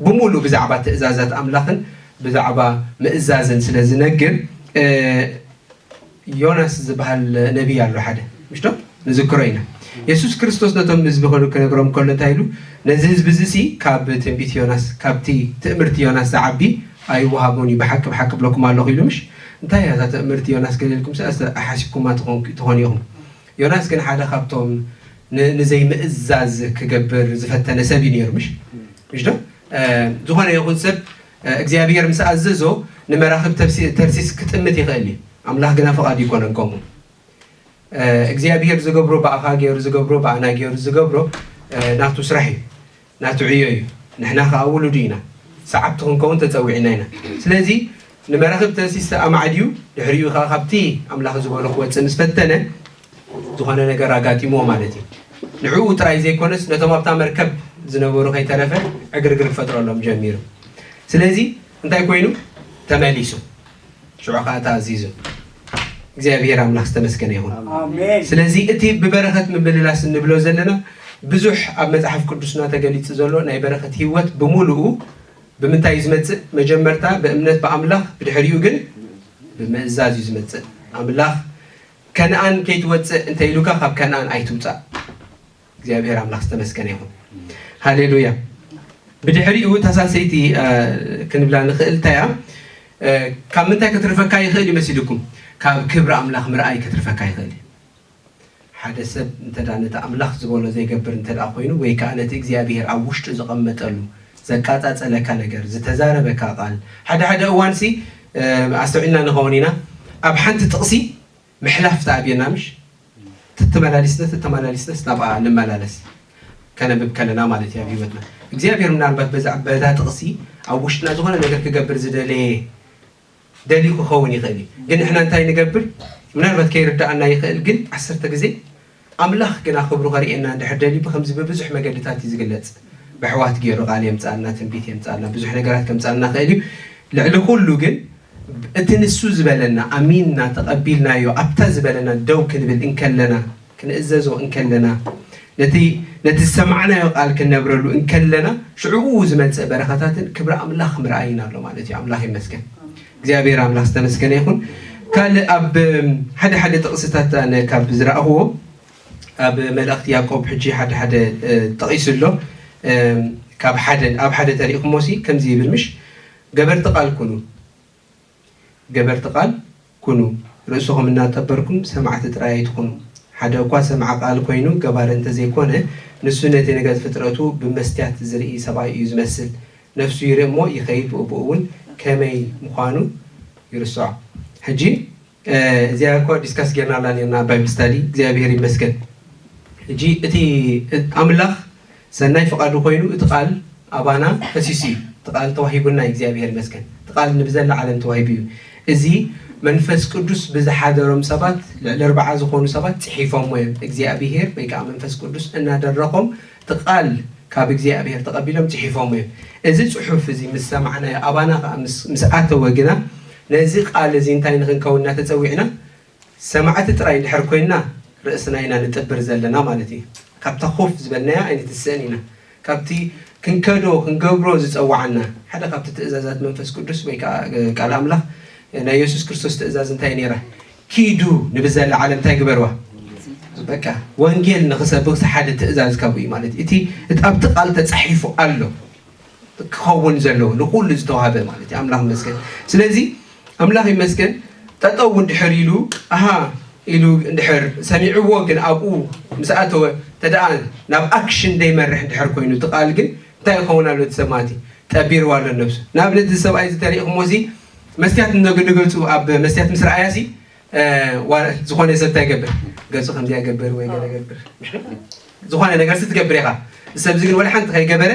ብምሉእ ብዛዕባ ትእዛዛት ኣምላኽን ብዛዕባ ምእዛዝን ስለ ዝነግር ዮናስ ዝበሃል ነቢይ ኣሎ ሓደ ምሽቶ ንዝክሮ ኢና የሱስ ክርስቶስ ነቶም ህዝቢ ክነግሮም ከሎ እንታይ ኢሉ ነዚ ህዝቢ እዚ ሲ ካብ ትንቢት ዮናስ ካብቲ ትእምርቲ ዮናስ ዝዓቢ ኣይወሃቦን እዩ ብሓቂ ብሓቂ ብለኩም ኣለኹ ኢሉ ምሽ እንታይ እያ እዛ ትእምርቲ ዮናስ ገለ ኢልኩም ሓሲብኩማ ትኾኑ ኢኹም ዮናስ ግን ሓደ ካብቶም ን ንዘይምእዛዝ ክገብር ዝፈተነ ሰብ እዩ ነይሩ ምሽ ምሽዶ ዝኾነ ይኹን ሰብ እግዚኣብሄር ምስ ኣዘዞ ንመራኽብ ተብሲ ተርሲስ ክጥምት ይኽእል እዩ ኣምላኽ ግና ፍቓዱ ኣይኮነን ከምኡ እግዚኣብሄር ዝገብሮ ብኣኻ ገይሩ ዝገብሮ ብኣና ገይሩ ዝገብሮ ናቱ ስራሕ እዩ ናቱ ዕዮ እዩ ንሕና ከኣ ውሉዱ ኢና ሰዓብቱ ክንከውን ተጸዊዕና ኢና ስለዚ ንመራኽብ ተንሲስተ ኣማዕድዩ ድሕሪኡ ከኣ ካብቲ ኣምላኽ ዝበሎ ክወጽእ ምስ ፈተነ ዝኾነ ነገር ኣጋጢምዎ ማለት እዩ ንዕኡ ጥራይ ዘይኮነስ ነቶም ኣብታ መርከብ ዝነበሩ ከይተረፈ ዕግርግር ክፈጥረሎም ጀሚሩ ስለዚ እንታይ ኮይኑ ተመሊሱ ሽዑ ከዓ ተኣዚዙ። እግዚኣብሔር ኣምላኽ ዝተመስገነ ይኹን። ኣሜን። ስለዚ እቲ ብበረኸት ምምልላስ እንብሎ ዘለና ብዙሕ ኣብ መጽሓፍ ቅዱስና ተገሊጹ ዘሎ ናይ በረኸት ህይወት ብምሉኡ ብምንታይ እዩ ዝመጽእ? መጀመርታ ብእምነት ብኣምላኽ ብድሕሪኡ ግን ብምእዛዝ እዩ ዝመጽእ። ኣምላኽ ከነኣን ከይትወጽእ እንተ ኢሉካ ካብ ከነኣን ኣይትውጻእ። እግዚኣብሔር ኣምላክ ዝተመስገነ ይኹን ሃሌሉያ ብድሕሪኡ እታ ሳልሰይቲ ክንብላ ንኽእል እንታይ እያ ካብ ምንታይ ክትርፈካ ይኽእል ይመስልኩም ካብ ክብሪ ኣምላኽ ምርኣይ ክትርፈካ ይኽእል እዩ ሓደ ሰብ እንተ ነቲ ኣምላኽ ዝበሎ ዘይገብር እንተ ኮይኑ ወይ ከዓ ነቲ እግዚኣብሄር ኣብ ውሽጡ ዝቐመጠሉ ዘቃፃፀለካ ነገር ዝተዛረበካ ቃል ሓደ ሓደ እዋንሲ ኣስተውዒልና ንኸውን ኢና ኣብ ሓንቲ ጥቕሲ ምሕላፍ ተኣብየና ምሽ ተተመላሊስነስ ተተመላሊስነስ ናብኣ ንመላለስ ከነብብ ከለና ማለት እዩ ኣብ ህይወትና እግዚኣብሔር ምናልባት በዛ በዛ ጥቕሲ ኣብ ውሽጥና ዝኾነ ነገር ክገብር ዝደለየ ደልዩ ክኸውን ይኽእል እዩ ግን ንሕና እንታይ ንገብር ምናልባት ከይርዳኣና ይኽእል ግን ዓሰርተ ግዜ ኣምላኽ ግና ክብሩ ከርእየና እንድሕር ደልዩ ብከምዚ ብብዙሕ መገድታት እዩ ዝግለጽ በሕዋት ጌሩ ቃል የምጽኣልና ትንቢት የምጽኣልና ብዙሕ ነገራት ከምጽኣልና ይኽእል እዩ ልዕሊ ኩሉ ግን እቲ ንሱ ዝበለና ኣሚንና ተቀቢልናዮ ኣብታ ዝበለና ደው ክንብል እንከለና ክንእዘዞ እንከለና ነቲ ነቲ ዝሰማዕናዮ ቃል ክንነብረሉ እንከለና ሽዑኡ ዝመጽእ በረኸታትን ክብሪ ኣምላኽ ምርኣይን ኣሎ ማለት እዩ ኣምላኽ ይመስገን እግዚኣብሔር ኣምላክ ዝተመስገነ ይኩን ካልእ ኣብ ሓደ ሓደ ጥቅስታት ኣነ ካብ ዝረኣክዎ ኣብ መልእክቲ ያቆብ ሕጂ ሓደ ሓደ ጠቂሱ ኣሎ ካብ ሓደ ኣብ ሓደ ተሪእክሞ ሲ ከምዚ ይብል ምሽ ገበርቲ ቃል ኩኑ ገበርቲ ቃል ኩኑ ርእስኩም እናጠበርኩም ሰማዕቲ ጥራይ ኣይትኩኑ ሓደ እኳ ሰምዐ ቃል ኮይኑ ገባሪ እንተዘይኮነ ንሱ ነቲ ነገር ፍጥረቱ ብመስትያት ዝርኢ ሰብኣይ እዩ ዝመስል ነፍሱ ይርእ እሞ ይኸይድ ብኡብኡ እውን ከመይ ምዃኑ ይርስዖ ሕጂ እዚኣ እኳ ዲስካስ ጌርናላ ኔርና ኣብ ባይብል ስታዲ እግዚኣብሄር ይመስገን ሕጂ እቲ ኣምላኽ ሰናይ ፍቓዱ ኮይኑ እቲ ቃል ኣባና ፈሲሱ እዩ እቲ ቃል ተዋሂቡና እዩ እግዚኣብሄር ይመስገን እቲ ቃል ንብዘላ ዓለም ተዋሂቡ እዩ እዚ መንፈስ ቅዱስ ብዝሓደሮም ሰባት ልዕሊ ኣርባዓ ዝኾኑ ሰባት ጽሒፎሞ እዮም እግዚኣብሄር ወይ ከዓ መንፈስ ቅዱስ እናደረኾም እቲ ቓል ካብ እግዚኣብሄር ተቐቢሎም ጽሒፎሞ እዮም። እዚ ጽሑፍ እዚ ምስ ሰማዕናዮ ኣባና ኸኣ ምስ ኣተወ ግና ነዚ ቓል እዚ እንታይ ንኽንከውን ኢና ተጸዊዕና? ሰማዕቲ ጥራይ እንድሕር ኰይንና ርእስና ኢና ንጥብር ዘለና ማለት እዩ። ካብታ ኮፍ ዝበልናያ ኣይንትስእን ኢና። ካብቲ ክንከዶ ክንገብሮ ዝጸውዓና ሓደ ካብቲ ትእዛዛት መንፈስ ቅዱስ ወይ ከኣ ቃል ኣምላኽ ናይ የሱስ ክርስቶስ ትእዛዝ እንታይ እያ ነይራ? ኪዱ ንብዘላ ዓለም እንታይ ግበርዋ በቃ ወንጌል ንክሰብክ ዝሓደ ትእዛዝ ካብኡ እዩ ማለት እዩ እቲ እቲ ኣብቲ ቃል ተፃሒፉ ኣሎ ክኸውን ዘለዎ ንኩሉ ዝተዋሃበ ማለት እዩ ኣምላኽ ይመስገን ስለዚ ኣምላኽ ይመስገን ጠጠው እውን ድሕር ኢሉ ኣሃ ኢሉ እንድሕር ሰሚዕዎ ግን ኣብኡ ምስ ኣተወ ተደኣ ናብ ኣክሽን ዘይመርሕ እንድሕር ኮይኑ እቲ ቃል ግን እንታይ ይኸውን ኣሎ እቲ ሰብ ማለት እዩ ጠቢርዋ ኣሎ ነብሱ ንኣብነት እዚ ሰብኣይ እዚ ተሪእኹሞ እዚ መስትያት እነግ ንገጹ ኣብ መስትያት ምስ ረኣያሲ ዝኾነ ሰብ እንታይ ይገብር ገጹ ከምዚኣ ይገብር ወይ ገለ ይገብር ዝኾነ ነገርሲ ትገብር ኢኻ እዚ ሰብዚ ግን ወላ ሓንቲ ከይገበረ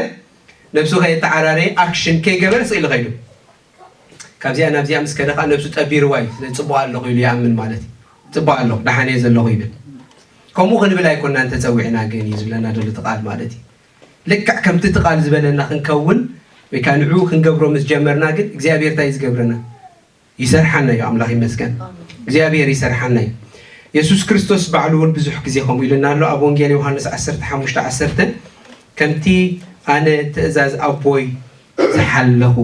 ነብሱ ከየተዓራረየ ኣክሽን ከይገበረ ስቕ ኢሉ ከይዱ ካብዚኣ ናብዚኣ ምስ ከደ ከዓ ነብሱ ጠቢርዋ እዩ ስለዚ ፅቡቕ ኣለኹ ኢሉ ይኣምን ማለት እዩ ፅቡቕ ኣለኹ ደሓን እየ ዘለኹ ይብል ከምኡ ክንብል ኣይኮናን ተፀዊዕና ግን እዩ ዝብለና ዘሎ እቲ ቃል ማለት እዩ ልክዕ ከምቲ እቲ ቃል ዝበለና ክንከውን ወይ ከኣ ንዕኡ ክንገብሮ ምስ ጀመርና ግን እግዚኣብሔር እንታይ እዩ ዝገብረና? ይሰርሓና እዩ። ኣምላኽ ይመስገን እግዚኣብሔር ይሰርሓና እዩ። የሱስ ክርስቶስ ባዕሉ እውን ብዙሕ ግዜ ከምኡ ኢሉና ኣሎ። ኣብ ወንጌል ዮሃንስ ዓሰርተ ሓሙሽተ ዓሰርተ ከምቲ ኣነ ትእዛዝ ኣቦይ ዝሓለኹ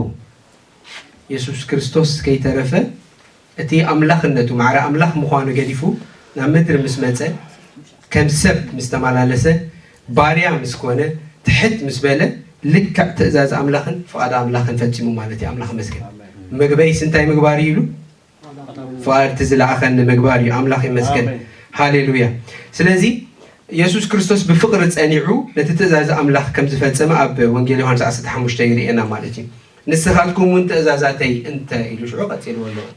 የሱስ ክርስቶስ ከይተረፈ እቲ ኣምላኽነቱ፣ ማዕረ ኣምላኽ ምዃኑ ገዲፉ ናብ ምድሪ ምስ መጸ፣ ከም ሰብ ምስ ተመላለሰ፣ ባርያ ምስ ኮነ፣ ትሕት ምስ በለ፣ ልክዕ ትእዛዝ ኣምላኽን ፍቓድ ኣምላኽን ፈጺሙ ማለት እዩ። ኣምላኽ ይመስገን። መግበይስ እንታይ ምግባር እዩ ኢሉ? ፍቓድ እቲ ዝለኣኸኒ ምግባር እዩ። ኣምላኽ ይመስገን። ሃሌሉያ። ስለዚ የሱስ ክርስቶስ ብፍቕሪ ጸኒዑ ነቲ ትእዛዝ ኣምላኽ ከም ዝፈጸመ ኣብ ወንጌል ዮሃንስ ዓሰርተ ሓሙሽተ ይርእየና ማለት እዩ። ንስኻትኩም እውን ትእዛዛተይ እንተ ኢሉ ሽዑ ቀጺልዎ ኣሎ እዩ።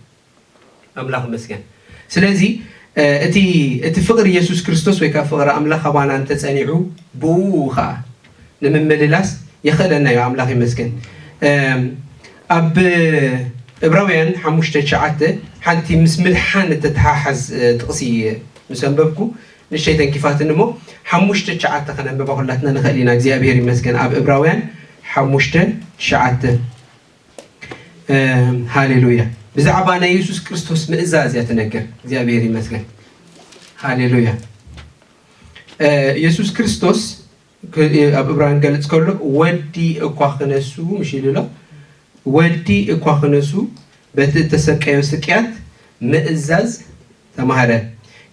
ኣምላኽ ይመስገን። ስለዚ እቲ እቲ ፍቕሪ የሱስ ክርስቶስ ወይ ከኣ ፍቕሪ ኣምላኽ ኣባና እንተ ጸኒዑ ብእኡ ኸኣ ንምምልላስ የኽእለና እዩ። ኣምላኽ ይመስገን። ኣብ እብራውያን ሓሙሽተ ትሽዓተ ሓንቲ ምስ ምድሓን እተተሓሓዝ ጥቕሲ ምስ ኣንበብኩ ንእሽተይ ተንኪፋትኒ እሞ ሓሙሽተ ትሽዓተ ከነንብባ ኩላትና ንኽእል ኢና እግዚኣብሄር ይመስገን ኣብ እብራውያን ሓሙሽተ ትሽዓተ ሃሌሉያ ብዛዕባ ናይ የሱስ ክርስቶስ ምእዛዝ እያ ትነግር እግዚኣብሄር ይመስገን ሃሌሉያ የሱስ ክርስቶስ ኣብ እብራን ክገልጽ ከሎ ወልዲ እኳ ክነሱ ምሽ ኢሉ ኣሎ ወልዲ እኳ ክነሱ በቲ እተሰቀዮ ስቅያት ምእዛዝ ተማህረ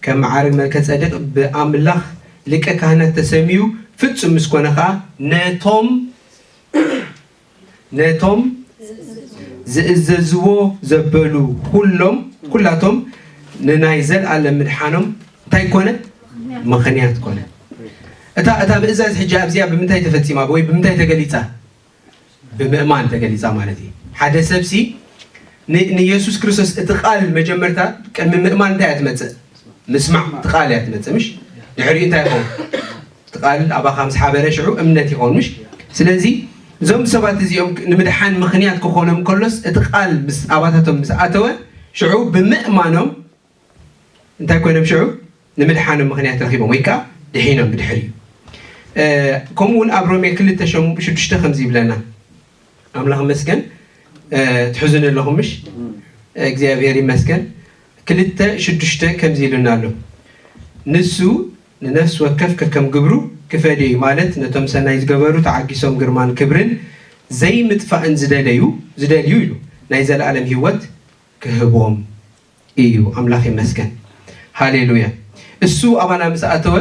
ከም መዓርግ መልከጸዴቅ ብኣምላኽ ሊቀ ካህናት ተሰምዩ ፍጹም ምስ ኮነ ከኣ ነቶም ነቶም ዝእዘዝዎ ዘበሉ ኩሎም ኩላቶም ንናይ ዘልኣለም ምድሓኖም እንታይ ኮነ ምኽንያት ኮነ እታ እታ ምእዛዝ ሕጂ ኣብዚኣ ብምንታይ ተፈጺማ ወይ ብምንታይ ተገሊጻ ብምእማን ተገሊጻ ማለት እዩ ሓደ ሰብሲ ን ንየሱስ ክርስቶስ እቲ ቃል መጀመርታ ቅድሚ ምእማን እንታይ እያ ትመጽእ ምስማዕ እቲ ቃል እያ ትመጽእ ምሽ ድሕሪኡ እንታይ ይኸውን እቲ ቃል ኣባኻ ምስ ሓበረ ሽዑ እምነት ይኸውን ምሽ ስለዚ እዞም ሰባት እዚኦም ንምድሓን ምኽንያት ክኾኖም ከሎስ እቲ ቃል ምስ ኣባታቶም ምስ ኣተወ ሽዑ ብምእማኖም እንታይ ኮይኖም ሽዑ ንምድሓኖም ምክንያት ረኺቦም ወይ ከዓ ድሒኖም ብድሕሪኡ ከምኡ እውን ኣብ ሮሜ ክልተ ሽዱሽተ ከምዚ ይብለና ኣምላኽ መስገን ትሕዙኒ ኣለኹም ምሽ እግዚኣብሔር ይመስገን ክልተ ሽዱሽተ ከምዚ ኢሉና ኣሎ ንሱ ንነፍሲ ወከፍ ከከም ግብሩ ክፈድዩ ማለት ነቶም ሰናይ ዝገበሩ ተዓጊሶም ግርማን ክብርን ዘይምጥፋእን ዝደለዩ ዝደልዩ ኢሉ ናይ ዘለኣለም ህይወት ክህቦም እዩ ኣምላኽ ይመስገን ሃሌሉያ እሱ ኣባና ምስ ኣተወ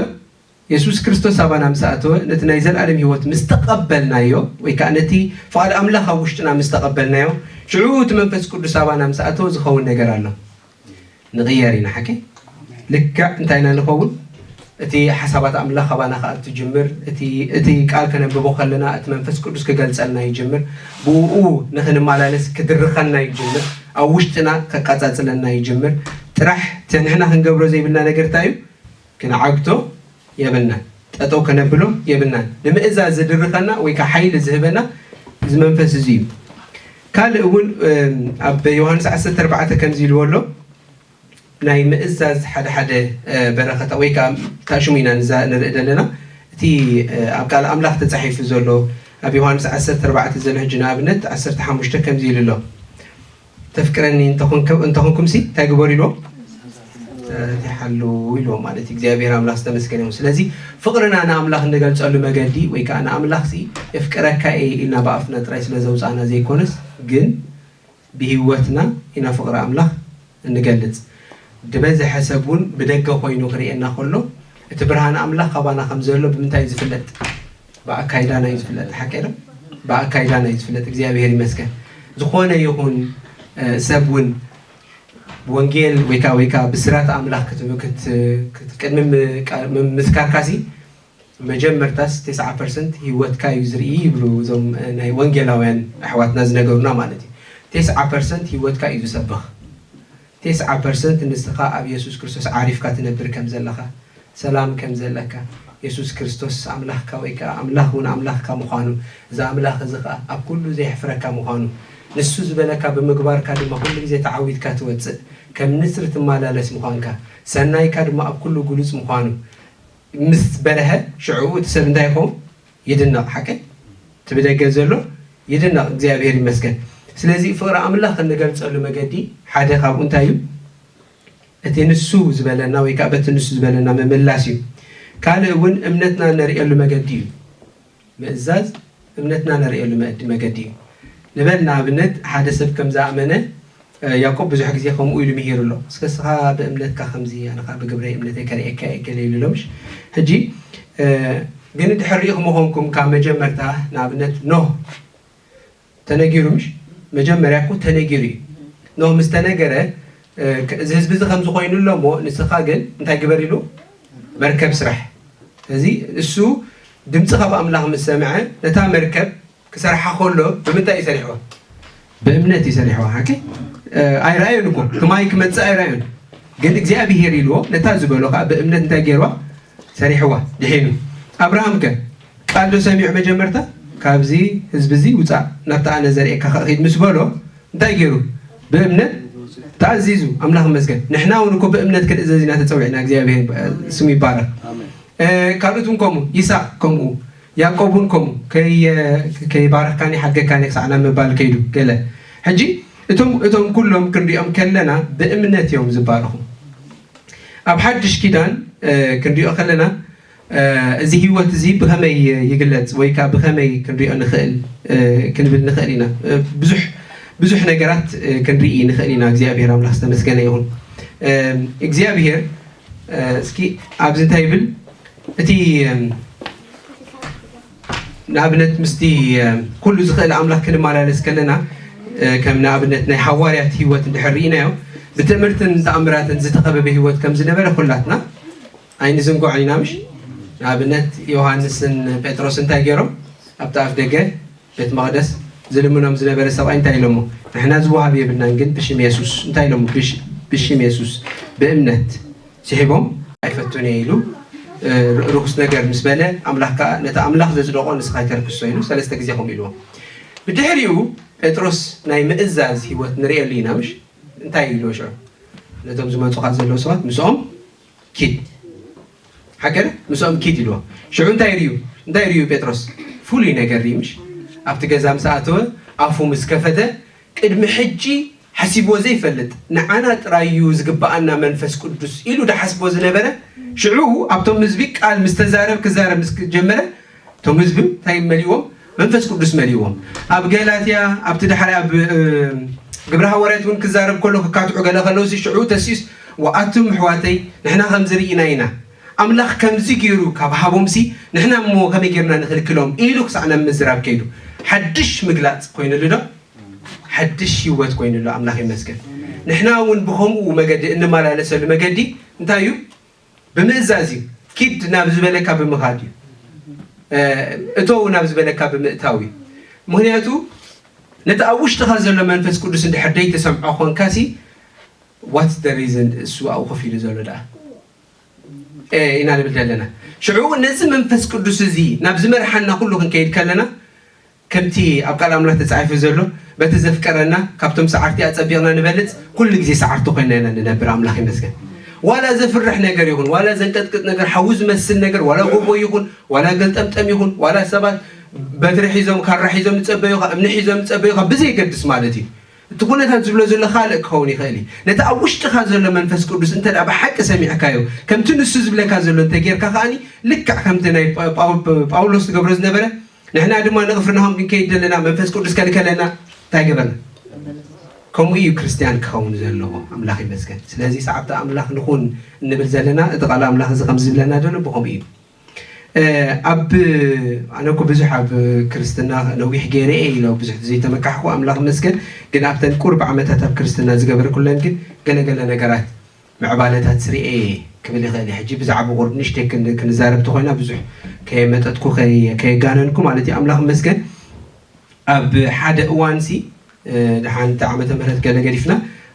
የሱስ ክርስቶስ ኣባና ምስ ኣተወ ነቲ ናይ ዘለኣለም ህይወት ምስ ተቐበልናዮ ወይ ከዓ ነቲ ፍቓድ ኣምላኽ ኣብ ውሽጥና ምስ ተቐበልናዮ ሽዑ እቲ መንፈስ ቅዱስ ኣባና ምስ ኣተወ ዝኸውን ነገር ኣሎ ንቕየር ኢና ሓቂ ልክዕ እንታይ ኢና ንኸውን እቲ ሓሳባት ኣምላኽ ኣባና ክኣ ትጅምር እቲ እቲ ቃል ከነንብቦ ከለና እቲ መንፈስ ቅዱስ ክገልጸልና ይጅምር ብእኡ ንክንማላለስ ክድርኸና ይጅምር ኣብ ውሽጥና ከቃጻጽለና ይጅምር ጥራሕ እቲ ንሕና ክንገብሮ ዘይብልና ነገር ታይ እዩ ክንዓግቶ የብልናን ጠጠው ከነብሎ የብልናን ንምእዛዝ ዝድርኸና ወይ ከኣ ሓይሊ ዝህበና እዚ መንፈስ እዚ እዩ ካልእ እውን ኣብ ዮሃንስ ዓሰርተ ኣርባዕተ ከምዚ ኢልዎ ኣሎ ናይ ምእዛዝ ሓደ ሓደ በረኸታ ወይ ከኣ ካብ ሽሙ ኢና ንዛ ንርኢ ዘለና እቲ ኣብ ቃል ኣምላኽ ተጻሒፉ ዘሎ ኣብ ዮሃንስ ዓሰርተ ኣርባዕተ ዘሎ ሕጂ ንኣብነት ዓሰርተ ሓሙሽተ ከምዚ ኢሉ ኣሎ ተፍቅረኒ እንተ ኾንኩምሲ እንታይ ግበሩ ኢልዎም ትእዛዛት ይሓልው ኢልዎም ማለት እዩ እግዚኣብሔር ኣምላኽ ዝተመስገነ ይኹን ስለዚ ፍቕርና ንኣምላኽ እንገልጸሉ መገዲ ወይ ከኣ ንኣምላኽ ሲ የፍቅረካ እየ ኢልና ብኣፍና ጥራይ ስለ ዘውጻእና ዘይኮነስ ግን ብህይወትና ኢና ፍቕሪ ኣምላኽ እንገልጽ። ድበዘሐ ሰብ እውን ብደገ ኮይኑ ክርእየና ከሎ እቲ ብርሃን ኣምላኽ ካባና ከም ዘሎ ብምንታይ እዩ ዝፍለጥ? ብኣካይዳና እዩ ዝፍለጥ። ሓቀይ ዶ? ብኣካይዳና እዩ ዝፍለጥ። እግዚኣብሔር ይመስገን። ዝኾነ ይኹን ሰብ እውን ወንጌል ወይ ከዓ ወይ ከዓ ብስራት ኣምላኽ ቅድሚ ምስካርካሲ መጀመርታስ ተስዓ ፐርሰንት ሂወትካ እዩ ዝርኢ ይብሉ እዞም ናይ ወንጌላውያን ኣሕዋትና ዝነገሩና ማለት እዩ ተስዓ ፐርሰንት ሂወትካ እዩ ዝሰብኽ ተስዓ ፐርሰንት ንስኻ ኣብ የሱስ ክርስቶስ ዓሪፍካ ትነብር ከም ዘለኻ ሰላም ከም ዘለካ የሱስ ክርስቶስ ኣምላኽካ ወይ ከኣ ኣምላኽ ውን ኣምላኽካ ምዃኑ እዚ ኣምላኽ እዚ ከኣ ኣብ ኩሉ ዘየሕፍረካ ምዃኑ ንሱ ዝበለካ ብምግባርካ ድማ ኩሉ ግዜ ተዓዊትካ ትወጽእ ከም ንስር ትማላለስ ምዃንካ ሰናይካ ድማ ኣብ ኩሉ ግሉጽ ምዃኑ ምስ በርሀ ሽዑ እቲ ሰብ እንታይ ይኸውን ይድነቅ ሓቀይ እቲ ብደገ ዘሎ ይድነቅ እግዚኣብሔር ይመስገን ስለዚ ፍቅሪ ኣምላኽ እንገልጸሉ መገዲ ሓደ ካብኡ እንታይ እዩ እቲ ንሱ ዝበለና ወይ ከኣ በቲ ንሱ ዝበለና ምምላስ እዩ ካልእ እውን እምነትና እነርእየሉ መገዲ እዩ ምእዛዝ እምነትና ነርእየሉ መእዲ መገዲ እዩ ንበል ንኣብነት ሓደ ሰብ ከም ዝኣመነ ያቆብ ብዙሕ ግዜ ከምኡ ኢሉ ምሂሩ ኣሎ እስከ እስኻ ብእምነትካ ከምዚ ኣነ ከኣ ብግብረይ እምነተይ ከርእየካ እየ ገለ ኢሉ እሎምሽ ሕጂ ግን ድሕር ርኢኽሞ ኮንኩም ካብ መጀመርታ ንኣብነት ኖህ ተነጊሩ ምሽ መጀመርያ እኮ ተነጊሩ እዩ ን ምስ ተነገረ እዚ ህዝቢ እዚ ከምዚ ኮይኑ ኣሎ እሞ ንስኻ ግን እንታይ ግበር ኢሉ መርከብ ስራሕ እዚ እሱ ድምፂ ካብ ኣምላኽ ምስ ሰምዐ ነታ መርከብ ክሰርሓ ከሎ ብምንታይ እዩ ሰሪሕዋ ብእምነት እዩ ሰሪሕዋ ሓቂ ኣይረኣዮን እኮ ክማይ ክመፅእ ኣይረኣዮን ግን እግዚኣብሄር ኢልዎ ነታ ዝበሎ ከዓ ብእምነት እንታይ ገይርዋ ሰሪሕዋ ድሒኑ ኣብርሃም ከ ቃል ዶ ሰሚዑ መጀመርታ ካብዚ ህዝቢ እዚ ውጻእ ናብቲ ኣነ ዘርእየካ ከእ ኪድ ምስ በሎ እንታይ ጌሩ ብእምነት ተኣዚዙ ኣምላኽ ይመስገን ንሕና እውን እኮ ብእምነት ክንእዘዝ ኢና ተጸዊዕና እግዚኣብሔር ስሙ ይባረኽ ካልኦት እውን ከምኡ ይስሐቅ ከምኡ ያዕቆብ እውን ከምኡ ከይባረኽካኒ ሓድገካኒ ክሳዕ ናብ ምባል ከይዱ ገለ ሕጂ እቶም እቶም ኩሎም ክንሪኦም ከለና ብእምነት እዮም ዝባረኹ ኣብ ሓድሽ ኪዳን ክንሪኦ ከለና እዚ ህይወት እዚ ብኸመይ ይግለጽ ወይ ከኣ ብኸመይ ክንሪኦ ንኽእል ክንብል ንኽእል ኢና። ብዙሕ ብዙሕ ነገራት ክንርኢ ንኽእል ኢና። እግዚኣብሔር ኣምላኽ ዝተመስገነ ይኹን። እግዚኣብሔር እስኪ ኣብዚ እንታይ ይብል እቲ ንኣብነት ምስቲ ኩሉ ዝኽእል ኣምላኽ ክንመላለስ ከለና ከም ንኣብነት ናይ ሃዋርያት ህይወት እንድሕር ርኢናዮ ብትእምርትን ተኣምራትን ዝተኸበበ ህይወት ከም ዝነበረ ኩላትና ኣይንዝንግዖን ኢና ምሽ ንኣብነት ዮሃንስን ጴጥሮስ እንታይ ገይሮም ኣብቲ ኣፍ ደገ ቤት መቕደስ ዝልምኖም ዝነበረ ሰብኣይ እንታይ ኢሎሞ ንሕና ዝወሃብ የብልናን ግን ብሽም የሱስ እንታይ ኢሎሞ ብሽም የሱስ ብእምነት ስሒቦም ኣይፈቱን እየ ኢሉ ርኹስ ነገር ምስ በለ ኣምላኽ ከኣ ነቲ ኣምላኽ ዘጽደቖ ንስኻ ኣይተርክሶ ኢሉ ሰለስተ ግዜ ከምኡ ኢልዎ ብድሕሪኡ ጴጥሮስ ናይ ምእዛዝ ህይወት ንርእየሉ ኢና ምሽ እንታይ ኢልዎ ሽዑ ነቶም ዝመጹኻ ዘለዉ ሰባት ምስኦም ኪድ ሓገረ ምስኦም ኪድ ኢልዎ ሽዑ እንታይ ርዩ እንታይ ርዩ ጴጥሮስ ፍሉይ ነገር ርዩ ምሽ ኣብቲ ገዛ ምስ ኣተወ ኣፉ ምስ ከፈተ ቅድሚ ሕጂ ሓሲብዎ ዘይፈልጥ ንዓና ጥራይ እዩ ዝግብኣና መንፈስ ቅዱስ ኢሉ ድሓስቦ ዝነበረ ሽዑ ኣብቶም ህዝቢ ቃል ምስ ተዛረብ ክዛረብ ምስ ጀመረ እቶም ህዝቢ እንታይ መሊእዎም መንፈስ ቅዱስ መሊእዎም ኣብ ገላትያ ኣብቲ ድሓር ኣብ ግብረ ሃዋርያት እውን ክዛረብ ከሎ ክካትዑ ገለ ከለውሲ ሽዑ ተሲኡስ ወኣቱም ኣሕዋተይ ንሕና ከምዚ ርኢና ኢና ኣምላኽ ከምዚ ገይሩ ካብ ሃቦምሲ ንሕና እሞ ከመይ ገይርና ንኽልክሎም ኢሉ ክሳዕ ናብ ምዝራብ ከይዱ። ሓድሽ ምግላጽ ኮይኑሉዶ? ሓድሽ ህይወት ኮይኑሉ። ኣምላኽ ይመስገን። ንሕና እውን ብኸምኡ መገዲ እንመላለሰሉ መገዲ እንታይ እዩ? ብምእዛዝ እዩ። ኪድ ናብ ዝበለካ ብምኻድ እዩ። እተው ናብ ዝበለካ ብምእታው እዩ። ምክንያቱ ነቲ ኣብ ውሽጥኻ ዘሎ መንፈስ ቅዱስ እንድሕር ደይተሰምዖ ኮንካሲ ዋትስ ደ ሪዝን እሱ ኣብኡ ኮፍ ኢሉ ዘሎ ደኣ ኢና ንብል ዘለና ሽዑ ነዚ መንፈስ ቅዱስ እዚ ናብ ዝመርሓና ኩሉ ክንከይድ ከለና ከምቲ ኣብ ቃል ኣምላኽ ተጻሒፉ ዘሎ በቲ ዘፍቀረና ካብቶም ሰዓርቲ ኣጸቢቕና ንበልጽ ኩሉ ግዜ ሰዓርቲ ኮይና ኢና ንነብር ኣምላኽ ይመስገን ዋላ ዘፍርሕ ነገር ይኹን ዋላ ዘንቀጥቅጥ ነገር ሓዊ ዝመስል ነገር ዋላ ጎቦ ይኹን ዋላ ገልጠምጠም ይኹን ዋላ ሰባት በትሪ ሒዞም ካራ ሒዞም ዝጸበዩኻ እምኒ ሒዞም ዝጸበዩኻ ብዘይገድስ ማለት እዩ እቲ ኩነታት ዝብሎ ዘሎ ካልእ ክኸውን ይኽእል እዩ። ነቲ ኣብ ውሽጥኻ ዘሎ መንፈስ ቅዱስ እንተ ብሓቂ ሰሚዕካዮ፣ ከምቲ ንሱ ዝብለካ ዘሎ እንተ ጌርካ ከኣ ልክዕ ከምቲ ናይ ጳውሎስ ዝገብሮ ዝነበረ፣ ንሕና ድማ ንቕፍርናሆም ክንከይድ ደለና፣ መንፈስ ቅዱስ ከልከለና፣ እንታይ ገበርና? ከምኡ እዩ ክርስትያን ክኸውን ዘለዎ። ኣምላኽ ይመስገን። ስለዚ ሰዓብቲ ኣምላኽ ንኹን እንብል ዘለና እቲ ቃል ኣምላኽ እዚ ከምዚ ዝብለና ዘሎ ብኸምኡ እዩ። ኣብ ኣነ እኮ ብዙሕ ኣብ ክርስትና ነዊሕ ገይረ እየ ኢለ ብዙሕ ዘይተመካሕኩ ኣምላኽ ይመስገን ግን ኣብተን ቁርብ ዓመታት ኣብ ክርስትና ዝገበርኩለን ግን ገለ ገለ ነገራት ምዕባለታት ስርኤ እየ ክብል ይኽእል እየ ሕጂ ብዛዕባ ቁርብ ንእሽተይ ክንዛረብ ተኾይና ብዙሕ ከየመጠጥኩ ከየጋነንኩ ማለት እዩ ኣምላኽ ይመስገን ኣብ ሓደ እዋንሲ ደሓን እቲ ዓመተ ምህረት ገለ ገዲፍና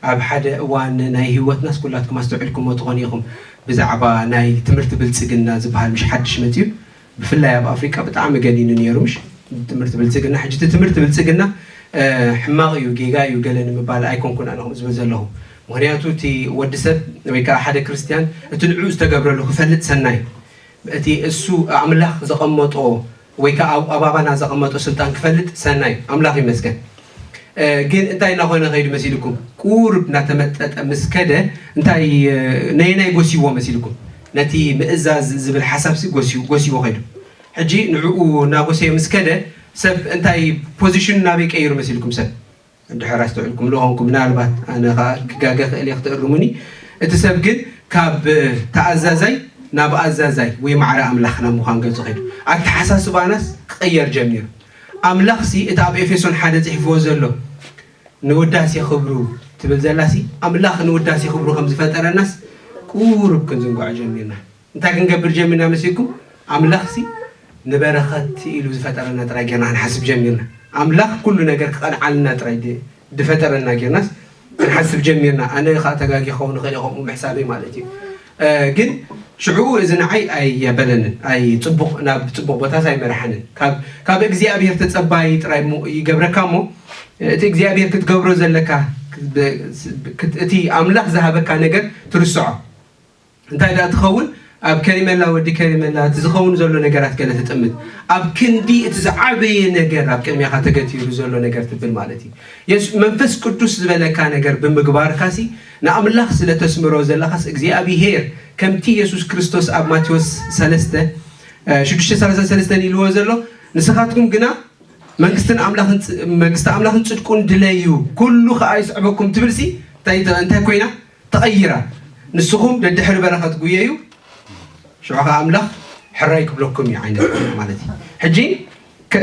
ኣብ ሓደ እዋን ናይ ሂወትናስ ኩላትኩም ኣስተውዒልኩሞ ትኾኑ ኢኹም ብዛዕባ ናይ ትምህርቲ ብልጽግና ዝብሃል ምሽ ሓድሽ መጺኡ ብፍላይ ኣብ ኣፍሪቃ ብጣዕሚ ገኒኑ ኔሩ ምሽ ትምህርቲ ብልጽግና ሕጂ እቲ ትምህርቲ ብልጽግና ሕማቕ እዩ ጌጋ እዩ ገለ ንምባል ኣይኮንኩን ኣነ ከምኡ ዝብል ዘለኹ ምኽንያቱ እቲ ወዲ ሰብ ወይ ከኣ ሓደ ክርስትያን እቲ ንዕኡ ዝተገብረሉ ክፈልጥ ሰናይ እቲ እሱ ኣምላኽ ዘቐመጦ ወይ ከኣ ኣብ ኣባባና ዘቐመጦ ስልጣን ክፈልጥ ሰናይ እዩ ኣምላኽ ይመስገን ግን እንታይ እናኾነ ከይዱ መሲልኩም ቁሩብ እናተመጠጠ ምስ ከደ እንታይ ነየናይ ጎስይዎ መሲልኩም ነቲ ምእዛዝ ዝብል ሓሳብሲ ጎስዩ ጎስይዎ ከይዱ ሕጂ ንዕኡ እናጎሰየ ምስ ከደ ሰብ እንታይ ፖዚሽኑ ናበይ ቀይሩ መሲልኩም ሰብ እንድሕር ኣስተውዒልኩም ልኾንኩም ምናልባት ኣነ ኸኣ ክጋገ እኽእል እየ ክትእርሙኒ እቲ ሰብ ግን ካብ ተኣዛዛይ ናብ ኣዛዛይ ወይ ማዕረ ኣምላኽ ናብ ምዃን ገጹ ኸይዱ ኣተሓሳስባናስ ክቕየር ጀሚሩ ኣምላኽሲ እቲ ኣብ ኤፌሶን ሓደ ጽሒፍዎ ዘሎ ንውዳሴ ክብሩ ትብል ዘላሲ ኣምላኽ ንውዳሴ ክብሩ ከም ዝፈጠረናስ ቁሩብ ክንዝንግዖ ጀሚርና እንታይ ክንገብር ጀሚርና መሲልኩም ኣምላኽሲ ንበረኸት ኢሉ ዝፈጠረና ጥራይ ጌርና ክንሓስብ ጀሚርና ኣምላኽ ኩሉ ነገር ክቐንዓልና ጥራይ ድፈጠረና ጌርናስ ክንሓስብ ጀሚርና ኣነ ከኣ ተጋጊ ክኸውን ይኽእል ከምኡ ምሕሳበይ ማለት እዩ ግን ሽዑኡ እዚ ንዓይ ኣየበለንን ኣይ ጽቡቕ ናብ ጽቡቕ ቦታስ ኣይመርሓንን ካብ እግዚኣብሄር ተጸባይ ጥራይ ይገብረካ እሞ እቲ እግዚኣብሄር ክትገብሮ ዘለካ እቲ ኣምላኽ ዝሃበካ ነገር ትርስዖ እንታይ ድኣ ትኸውን ኣብ ከሪመላ ወዲ ከሪመላ እቲ ዝኸውን ዘሎ ነገራት ገለ ትጥምት ኣብ ክንዲ እቲ ዝዓበየ ነገር ኣብ ቅድሚኻ ተገቲሩ ዘሎ ነገር ትብል ማለት እዩ የሱ መንፈስ ቅዱስ ዝበለካ ነገር ብምግባርካሲ ንኣምላኽ ስለ ተስምሮ ዘለኻስ እግዚኣብሄር ከምቲ የሱስ ክርስቶስ ኣብ ማቴዎስ 3 633 ኢልዎ ዘሎ ንስኻትኩም ግና መንግስትን ኣምላኽን መንግስቲ ኣምላኽን ጽድቁን ድለዩ ኩሉ ከኣ ይስዕበኩም ትብልሲ እንታይ እንታይ ኮይና ተቐይራ ንስኹም ደድሕሪ በረኸት ጉየዩ ሽዑ ኸኣ ኣምላኽ ሕራይ ክብለኩም እዩ ዓይነት ኮይና ማለት እዩ። ሕጂ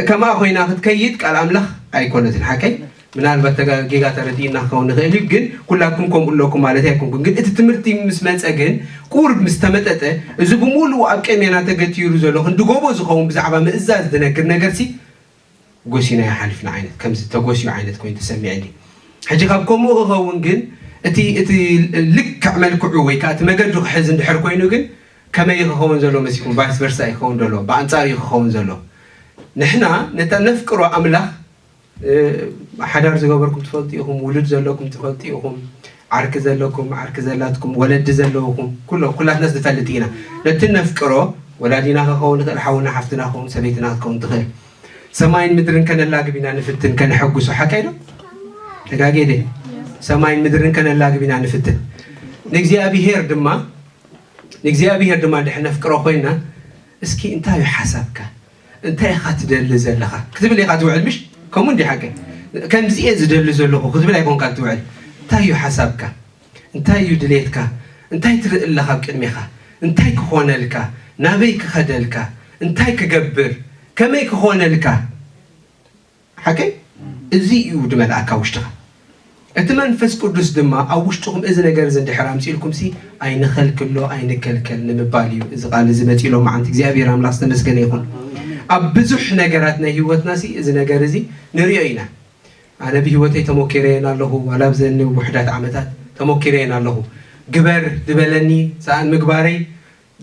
ከምኣ ኮይና ክትከይድ ቃል ኣምላኽ ኣይኮነትን ሓቀይ ምናልባት ተጋ- ጌጋ ተረዲእና ክኸውን ንኽእል እዩ ግን ኩላትኩም ከምኡ ኣለኩም ማለት ኣይኮንኩን ግን እቲ ትምህርቲ ምስ መጸ ግን ቁርብ ምስ ተመጠጠ እዚ ብምሉኡ ኣብ ቀሜና ተገቲሩ ዘሎ ክንዲ ጎቦ ዝኸውን ብዛዕባ ምእዛዝ ዝነግር ነገርሲ ጎሲናዮ ሓሊፍና ዓይነት ከምዚ ተጎስዩ ዓይነት ኮይኑ ተሰሚዕኒ ሕጂ ካብ ከሙኡ ክከውን ግን እቲ እቲ ልክዕ መልክዑ ወይ ከኣ እቲ መገዱ ክሕዝ እንድሕር ኮይኑ ግን ከመይ እዩ ክከውን ዘሎ መሲልኩም ቫይስ ቨርሳ እዩ ክከውን ዘሎ ብኣንጻሩ እዩ ክከውን ዘሎ ንሕና ነታ ነፍቅሮ ኣምላኽ ሓዳር ዝገበርኩም ትፈልጡ ኢኹም ውሉድ ዘለኩም ትፈልጡ ኢኹም ዓርኪ ዘለኩም ዓርኪ ዘላትኩም ወለዲ ዘለውኩም ኩሎም ኩላትናስ ንፈልጥ ኢና ነቲ እነፍቅሮ ወላዲና ከከውን ይክእል ሓውና ሓፍትና ክከውን ሰበይትና ክትከውን ትክእል ሰማይን ምድርን ከነላግብ ኢና ንፍትን ከነሐጉሶ ሓቀይ ዶ ተጋጌ ድየ ሰማይን ምድርን ከነላግብ ኢና ንፍትን ንእግዚኣብሄር ድማ ንእግዚኣብሄር ድማ ድሕር ነፍቅሮ ኮይና እስኪ እንታይ እዩ ሓሳብካ እንታይ ኢኻ ትደሊ ዘለኻ ክትብል ኢኻ ትውዕል ምሽ ከምኡ እንዲ ሓቂ ከምዚ እየ ዝደሊ ዘለኹ ክትብል ኣይኮንካን ትውዕል እንታይ እዩ ሓሳብካ እንታይ እዩ ድሌትካ እንታይ ትርኢ ኣለኻ ኣብ ቅድሜኻ እንታይ ክኾነልካ ናበይ ክኸደልካ እንታይ ክገብር ከመይ ክኾነልካ ሓቀይ እዚ እዩ ድመልኣካ ውሽጥኻ እቲ መንፈስ ቅዱስ ድማ ኣብ ውሽጥኹም እዚ ነገር እዚ እንድሕር ኣምጺእልኩምሲ ኣይንኸልክሎ ኣይንከልከል ንምባል እዩ እዚ ቃል እዚ መጺኡ ሎምዓንቲ እግዚኣብሔር ኣምላኽ ዝተመስገነ ይኹን ኣብ ብዙሕ ነገራት ናይ ህይወትናሲ እዚ ነገር እዚ ንሪኦ ኢና ኣነ ብህይወተይ ተሞኪረየን ኣለኹ ዋላ ኣብዘኒ ውሑዳት ዓመታት ተሞኪረየን ኣለኹ ግበር ዝበለኒ ሰኣን ምግባረይ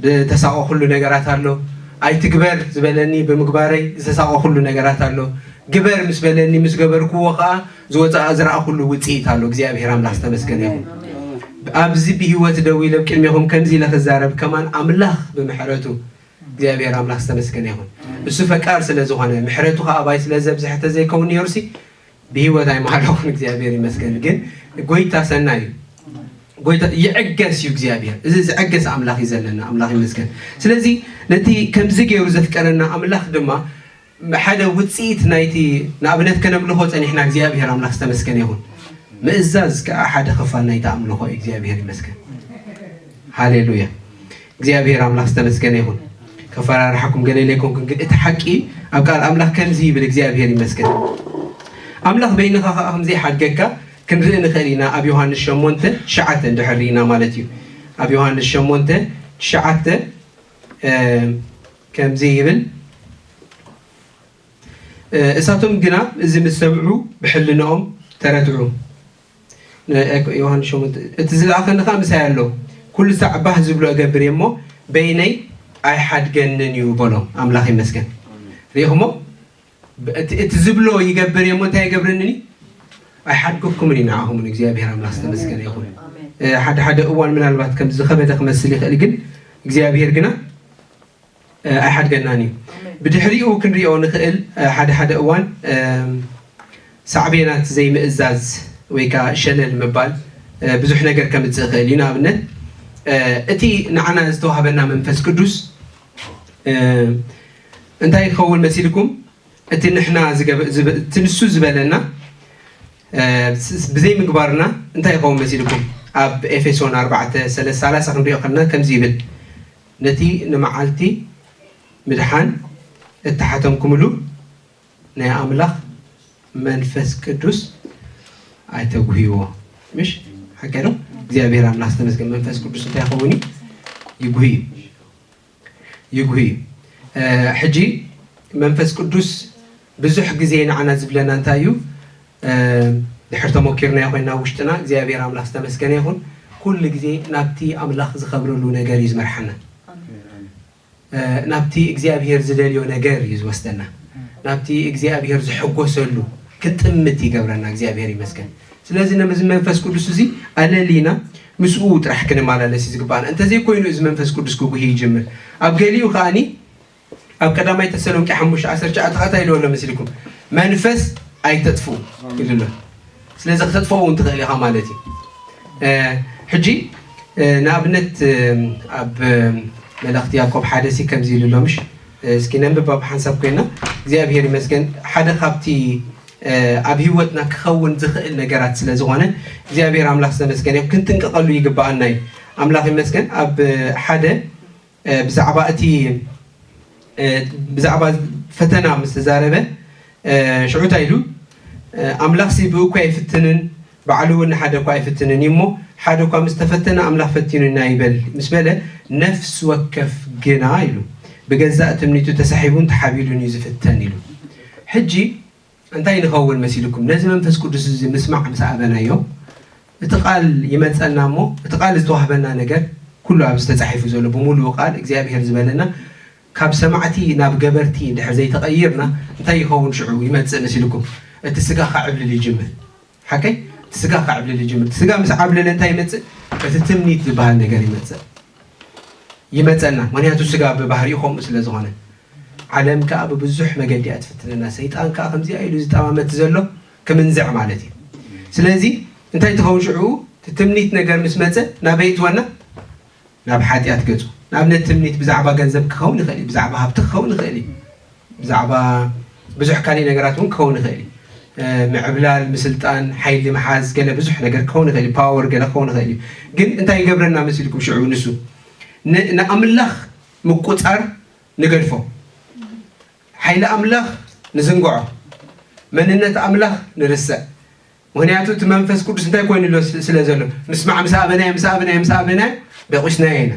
ዝተሳቐኹሉ ነገራት ኣሎ። ኣይትግበር ዝበለኒ ብምግባረይ ዝተሳቐኹሉ ነገራት ኣሎ። ግበር ምስ በለኒ ምስ ገበርክዎ ከኣ ዝወጽኣ ዝረኣኹሉ ውጽኢት ኣሎ። እግዚኣብሄር ኣምላኽ ዝተመስገነ ይኹን። ኣብዚ ብህይወት ደው ኢለ ቅድሜኹም ከምዚ ኢለ ክዛረብ ከማን ኣምላኽ ብምሕረቱ እግዚኣብሄር ኣምላኽ ዝተመስገነ ይኹን። እሱ ፈቃር ስለ ዝኾነ ምሕረቱ ከኣ ኣባይ ስለ ዘብዝሐ ተዘይከውን ነይሩሲ ብሂወት ኣይምሃለኹን እግዚኣብሔር ይመስገን ግን ጎይታ ሰናይ እዩ ጎይታ ይዕገስ እዩ እግዚኣብሔር እዚ ዝዕገስ ኣምላኽ እዩ ዘለና ኣምላኽ ይመስገን ስለዚ ነቲ ከምዚ ገይሩ ዘፍቀረና ኣምላኽ ድማ ሓደ ውፅኢት ናይቲ ንኣብነት ከነምልኾ ፀኒሕና እግዚኣብሔር ኣምላኽ ዝተመስገነ ይኹን ምእዛዝ ከዓ ሓደ ክፋል ናይቲ ኣምልኾ እዩ እግዚኣብሔር ይመስገን ሃሌሉያ እግዚኣብሔር ኣምላክ ዝተመስገነ ይኩን ከፈራርሓኩም ገለ ኢለ ኣይኮንኩን ግን እቲ ሓቂ ኣብ ቃል ኣምላክ ከምዚ ይብል እግዚኣብሔር ይመስገን ኣምላክ በይንካ ከዓ ከምዘይሓድገካ ክንርኢ ንክእል ኢና ኣብ ዮሃንስ ሸሞንተ ትሽዓተ እንድሕር ርኢና ማለት እዩ ኣብ ዮሃንስ ሸሞንተ ትሽዓተ ከምዚ ይብል እሳቶም ግና እዚ ምስ ሰምዑ ብሕልንኦም ተረትዑ ዮሃንስ ሸሞንተ እቲ ዝለኣኸኒ ኸኣ ምሳይ ኣሎ፣ ኵሉ ሳዕ ባህ ዚብሎ እገብር እየ እሞ፣ በይነይ ኣይሓድገንን እዩ በሎ። ኣምላኽ ይመስገን። ርኢኹሞ? ብ- እቲ እቲ ዝብሎ ይገብር እየ እሞ እንታይ ኣይገብረንን እዩ? ኣይሓድገኩምን እዩ ንዓኹምን። እግዚኣብሄር ኣምላኽ ዝተመስገነ ይኹን። እ፣ ሓደ ሓደ እዋን ምናልባት ከምዚ ዝኸበደ ክመስል ይኽእል፣ ግን እግዚኣብሄር ግና ኣይሓድገናን እዩ ብድሕሪኡ ክንሪኦ ንክእል ሓደ ሓደ እዋን ሳዕቤናት ዘይምእዛዝ ወይ ከኣ ሸለል ምባል ብዙሕ ነገር ከምጽእ ይክእል እዩ ንኣብነት እቲ ንዓና ዝተዋህበና መንፈስ ቅዱስ እንታይ ይከውን መሲልኩም እቲ ንሕና እቲ ንሱ ዝበለና ብዘይ ምግባርና እንታይ ይከውን መሲልኩም ኣብ ኤፌሶን ኣርባዕተ ሰለስ ሰላሳ ክንሪኦ ከለና ከምዚ ይብል ነቲ ንመዓልቲ ምድሓን እተሓተምኩምሉ ናይ ኣምላኽ መንፈስ ቅዱስ ኣይተጕህይዎ። ምሽ ሓቀይ ዶ? እግዚኣብሔር ኣምላኽ ዝተመስገን መንፈስ ቅዱስ እንታይ ይኸውን እዩ? ይጉህ እዩ። ይጉህ እዩ። ሕጂ መንፈስ ቅዱስ ብዙሕ ግዜ ንዓና ዝብለና እንታይ እዩ ድሕር ተሞኪርናዮ ኮይና ኣብ ውሽጥና እግዚኣብሔር ኣምላክ ዝተመስገነ ይኩን ኩሉ ግዜ ናብቲ ኣምላክ ዝከብረሉ ነገር እዩ ዝመርሓና ናብቲ እግዚኣብሔር ዝደልዮ ነገር እዩ ዝወስደና ናብቲ እግዚኣብሔር ዝሕጎሰሉ ክጥምት ይገብረና እግዚኣብሔር ይመስገን ስለዚ ነዚ መንፈስ ቅዱስ እዚ ኣለሊና ምስኡ ጥራሕ ክንመላለስ እዩ ዝግባኣና እንተዘይኮይኑ እዚ መንፈስ ቅዱስ ክጉሂ ይጅምር ኣብ ገሊኡ ከዓኒ ኣብ ቀዳማይ ተሰሎንቄ ሓሙሽተ ዓሰርተ ትሽዓተ ከኣ እንታይ ኢልዎ ኣሎ መሲልኩም መንፈስ ኣይተጥፍኡ ኢሉ ኣሎ ስለዚ ክተጥፍኦ እውን ትኽእል ኢኻ ማለት እዩ ሕጂ ንኣብነት ኣብ መልእኽቲ ያዕቆብ ሓደ ሲ ከምዚ ኢሉ ኣሎ ምሽ እስኪ ነንብብ ኣብ ሓንሳብ ኮይና እግዚኣብሄር ይመስገን ሓደ ካብቲ ኣብ ህይወትና ክኸውን ዝኽእል ነገራት ስለ ዝኾነ እግዚኣብሄር ኣምላኽ ዝተመስገነ ክንጥንቀቐሉ ይግባኣና እዩ ኣምላኽ ይመስገን ኣብ ሓደ ብዛዕባ እቲ ብዛዕባ ፈተና ምስ ተዛረበ ሽዑ እንታይ ኢሉ ኣምላኽሲ ብእኩይ ኣይፍትንን ባዕሉ እውን ንሓደ እኳ ኣይፍትንን እዩ እሞ ሓደ እኳ ምስ ተፈተነ ኣምላኽ ፈቲኑና ይበል ምስ በለ ነፍሲ ወከፍ ግና ኢሉ ብገዛእ ትምኒቱ ተሳሒቡን ተሓቢሉን እዩ ዝፍተን ኢሉ ሕጂ እንታይ ንኸውን መሲሉኩም? ነዚ መንፈስ ቅዱስ እዚ ምስማዕ ምስ ኣበናዮ፣ እቲ ቃል ይመጸና እሞ እቲ ቃል ዝተዋህበና ነገር ኩሉ ኣብዚ ተጻሒፉ ዘሎ ብምሉኡ ቃል እግዚኣብሄር ዝበለና ካብ ሰማዕቲ ናብ ገበርቲ እንድሕር ዘይተቐይርና እንታይ ይኸውን ሽዑ ይመጽእ መሲሉኩም? እቲ ስጋ ከዕብልል ይጅምር። ሓቀይ እቲ ስጋ ከዕብልል ይጅምር እቲ ስጋ ምስ ዓብለለ እንታይ ይመፅእ እቲ ትምኒት ዝበሃል ነገር ይመፅእ ይመፀና ምክንያቱ ስጋ ብባህሪኡ ከምኡ ስለ ዝኾነ ዓለም ከዓ ብብዙሕ መገዲ እያ ትፍትነና ሰይጣን ከዓ ከምዚኣ ኢሉ ዝጠማመት ዘሎ ክምንዝዕ ማለት እዩ ስለዚ እንታይ ትኸውን ሽዑ ትምኒት ነገር ምስ መፀ ናበይ ትወና ናብ ሓጢኣት ገጹ። ንኣብነት ትምኒት ብዛዕባ ገንዘብ ክኸውን ይኽእል እዩ፣ ብዛዕባ ሃብቲ ክኸውን ይኽእል እዩ፣ ብዛዕባ ብዙሕ ካልእ ነገራት እውን ክኸውን ይኽእል እዩ። ምዕብላል፣ ምስልጣን፣ ሓይሊ ምሓዝ፣ ገለ ብዙሕ ነገር ክኸውን ይኽእል እዩ፣ ፓወር ገለ ክኸውን ይኽእል እዩ። ግን እንታይ ይገብረና መሲልኩም ሽዑ ንሱ? ን ንኣምላኽ ምቁጻር ንገድፎ። ሓይሊ ኣምላኽ ንዝንግዖ። መንነት ኣምላኽ ንርስዕ። ምኽንያቱ እቲ መንፈስ ቅዱስ እንታይ ኮይኑ ኣሎ ስለ ዘሎ ምስማዕ ምስ ኣበናዮ ምስ ኣበናዮ ምስ ኣበናዮ ደቂስናዮ ኢና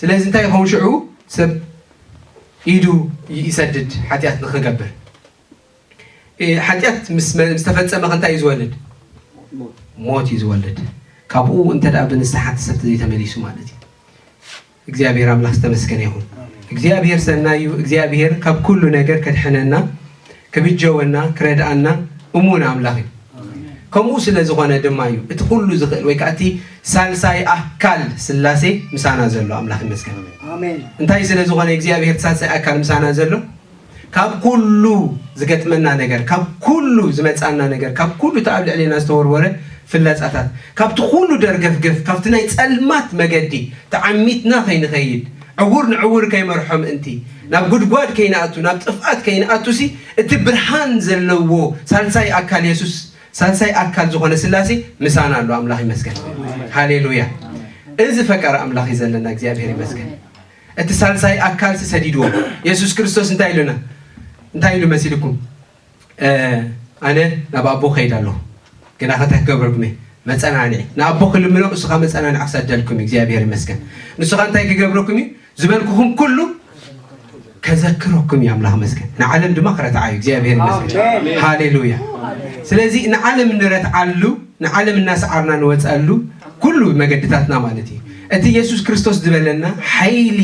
ስለዚ እንታይ ይኸውን ሽዑ ሰብ ኢዱ ይሰድድ ሓጢኣት ንክገብር ሓጢኣት ምስተፈፀመ ከንታይ እዩ ዝወልድ ሞት እዩ ዝወልድ ካብኡ እንተ ብንስሓ ተሰብ ዘይተመሊሱ ማለት እዩ እግዚኣብሔር ኣምላክ ዝተመስገነ ይኩን እግዚኣብሔር ሰናይ እዩ እግዚኣብሔር ካብ ኩሉ ነገር ከድሕነና ክብጀወና ክረድኣና እሙን ኣምላክ እዩ ከምኡ ስለ ዝኮነ ድማ እዩ እቲ ኩሉ ዝክእል ወይ ከዓ እቲ ሳልሳይ ኣካል ስላሴ ምሳና ዘሎ ኣምላክ ይመስገን እንታይ ስለ ዝኮነ እግዚኣብሔር ሳልሳይ ኣካል ምሳና ዘሎ ካብ ኩሉ ዝገጥመና ነገር፣ ካብ ኩሉ ዝመጽኣና ነገር፣ ካብ ኩሉ እቲ ኣብ ልዕሌና ዝተወርወረ ፍላጻታት፣ ካብቲ ኩሉ ደርገፍገፍ፣ ካብቲ ናይ ጸልማት መገዲ ተዓሚትና ከይንኸይድ፣ ዕዉር ንዕዉር ከይመርሖ ምእንቲ፣ ናብ ጉድጓድ ከይንኣቱ፣ ናብ ጥፍኣት ከይንኣቱሲ፣ እቲ ብርሃን ዘለዎ ሳልሳይ ኣካል የሱስ፣ ሳልሳይ ኣካል ዝኾነ ስላሴ ምሳና ኣሎ። ኣምላኽ ይመስገን። ሃሌሉያ! እዚ ፈቃር ኣምላኽ እዩ ዘለና። እግዚኣብሄር ይመስገን። እቲ ሳልሳይ ኣካልሲ ሰዲድዎ። የሱስ ክርስቶስ እንታይ ኢሉና? እንታይ ኢሉ መሲልኩም? ኣነ ናብ ኣቦ ከይድ ኣለኹ፣ ግናኸ እንታይ ክገብረልኩም እየ? መጸናንዒ ንኣቦ ክልምኖ ንሱ ኸኣ መጸናንዒ ክሰደልኩም እዩ። እግዚኣብሔር ይመስገን። ንሱ ኸኣ እንታይ ክገብረኩም እዩ? ዝበልኩኹም ኩሉ ከዘክረኩም እዩ። ኣምላኽ መስገን። ንዓለም ድማ ክረትዓ እዩ። እግዚኣብሔር ይመስገን። ሃሌሉያ። ስለዚ ንዓለም እንረትዓሉ፣ ንዓለም እናሰዓርና ንወጸሉ ኩሉ መገድታትና ማለት እዩ። እቲ የሱስ ክርስቶስ ዝበለና ሓይሊ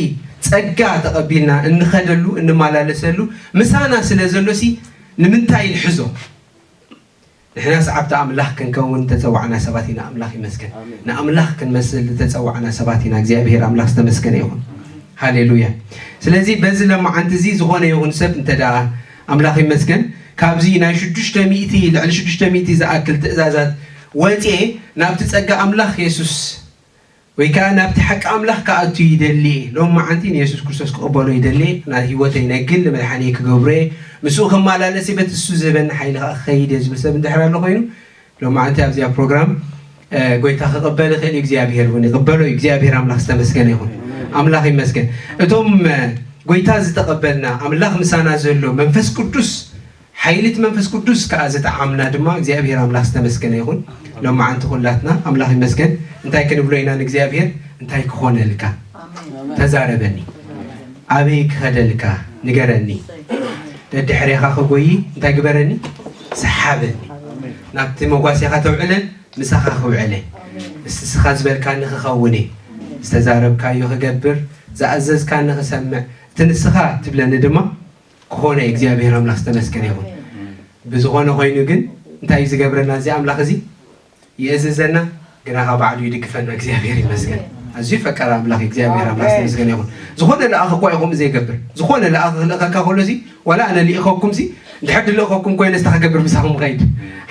ጸጋ ተቐቢልና እንኸደሉ እንማላለሰሉ ምሳና ስለ ዘሎሲ ንምንታይ ንሕዞ? ንሕና ሰዓብቲ ኣምላኽ ክንከውን ዝተጸዋዕና ሰባት ኢና ኣምላኽ ይመስገን። ንኣምላኽ ክንመስል ዝተጸዋዕና ሰባት ኢና እግዚኣብሄር ኣምላኽ ዝተመስገነ ይኹን። ሃሌሉያ ስለዚ በዚ ለማዓንቲ እዚ ዝኾነ ይኹን ሰብ እንተ ኣምላኽ ይመስገን ካብዚ ናይ ሽዱሽተ ሚእቲ ልዕሊ ሽዱሽተ ሚእቲ ዝኣክል ትእዛዛት ወጽኤ ናብቲ ጸጋ ኣምላኽ የሱስ ወይ ከኣ ናብቲ ሓቂ ኣምላኽ ክኣቱ ይደሊ እየ፣ ሎሚ መዓንቲ ንየሱስ ክርስቶስ ክቕበሎ ይደሊ እየ፣ ናይ ህይወተይ ናይ ግሊ መድሓኒየይ ክገብሮ እየ፣ ምስኡ ክመላለስ እየ፣ በቲ ንሱ ዝህበኒ ሓይሊ ከኣ ክኸይድ እየ ዝብል ሰብ እንድሕር ኣሎ ኮይኑ ሎሚ መዓንቲ ኣብዚኣ ፕሮግራም ጎይታ ክቕበል ይኽእል እዩ፣ እግዚኣብሄር እውን ይቕበሎ እዩ፣ እግዚኣብሄር ኣምላኽ ዝተመስገነ ይኹን። ኣምላኽ ይመስገን እቶም ጎይታ ዝተቐበልና ኣምላኽ ምሳና ዘሎ መንፈስ ቅዱስ ሓይሊ እቲ መንፈስ ቅዱስ ከኣ ዝተዓምና ድማ እግዚኣብሄር ኣምላኽ ዝተመስገነ ይኹን ሎማዓንቲ ኩላትና ኣምላኽ ይመስገን እንታይ ክንብሎ ኢና ንእግዚኣብሄር እንታይ ክኾነልካ ተዛረበኒ ኣበይ ክኸደልካ ንገረኒ ደድሕሬኻ ክጎይ እንታይ ግበረኒ ሰሓበኒ ናብቲ መጓሴኻ ተውዕለን ምሳኻ ክውዕለ እስስኻ ዝበልካኒ ክኸውን እየ ዝተዛረብካዮ ክገብር ዝኣዘዝካኒ ክሰምዕ እቲ ንስኻ ትብለኒ ድማ ክኾነ እግዚኣብሔር ኣምላክ ዝተመስገነ ይኹን ብዝኾነ ኾይኑ ግን እንታይ እዩ ዝገብረና እዚ ኣምላክ እዚ ይእዝዘና ግና ካብ ባዕሉ ይድግፈና እግዚኣብሔር ይመስገን ኣዝዩ ፈቃር ኣምላክ እግዚኣብሔር ኣምላክ ዝተመስገነ ይኹን ዝኾነ ለኣኽ እኳ ይኹም ዘይገብር ዝኾነ ለኣኽ ክልእኸካ ከሎ እዚ ዋላ ኣነ ልኢኸኩም ሲ ድሕር ድልእኸኩም ኮይነ ስታ ክገብር ምሳኹም ኸይድ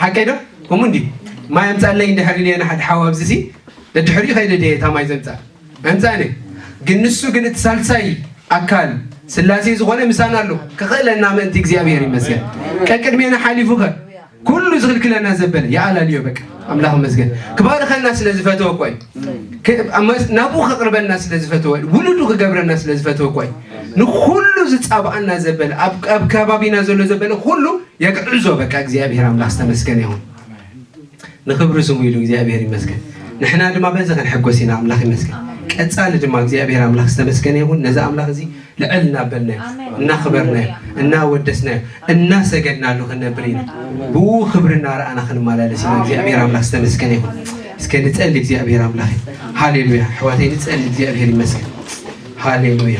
ሓቀይ ዶ ከምኡ እንዲ ማይ ኣምፃለይ እንድሕር ኢለ ንሓደ ሓው ኣብዚ ሲ ደድሕሪኡ ኸይደ ድየ እታ ማይ ዘምፃእ ኣንጻነ ግን ንሱ ግን እቲ ሳልሳይ ኣካል ስላሴ ዝኾነ ምሳና ኣሎ ክኽእለና ምእንቲ እግዚኣብሔር ይመስገን ቀቅድሜና ሓሊፉ ከ ኩሉ ዝኽልክለና ዘበለ ይኣላልዮ በቃ ኣምላኽ ይመስገን ክባርኸና ስለ ዝፈተወ እኮ ናብኡ ከቕርበና ስለ ዝፈተወ ውሉዱ ክገብረና ስለ ዝፈተወ እኮ ንኩሉ ዝፃብኣና ዘበለ ኣብ ከባቢና ዘሎ ዘበለ ኩሉ የግዕዞ በቃ እግዚኣብሔር ኣምላኽ ዝተመስገነ ይኹን ንኽብሪ ስሙ ኢሉ እግዚኣብሔር ይመስገን ንሕና ድማ በዚ ክንሕጎስ ኢና ኣምላኽ ይመስገን ቀጻሊ ድማ እግዚኣብሔር ኣምላኽ ዝተመስገነ ይኹን ነዚ ኣምላኽ እዚ ልዕል እናበልናዮ እናኽበርናዮ እናወደስናዮ እናሰገድናሉ ክንነብር ኢና ብኡ ክብሪ እናረኣና ክንመላለስ ኢና እግዚኣብሔር ኣምላኽ ዝተመስገነ ይኹን እስከ ንጸሊ እግዚኣብሔር ኣምላኽ ሃሌሉያ ኣሕዋተይ ንጸሊ እግዚኣብሔር ይመስገን ሃሌሉያ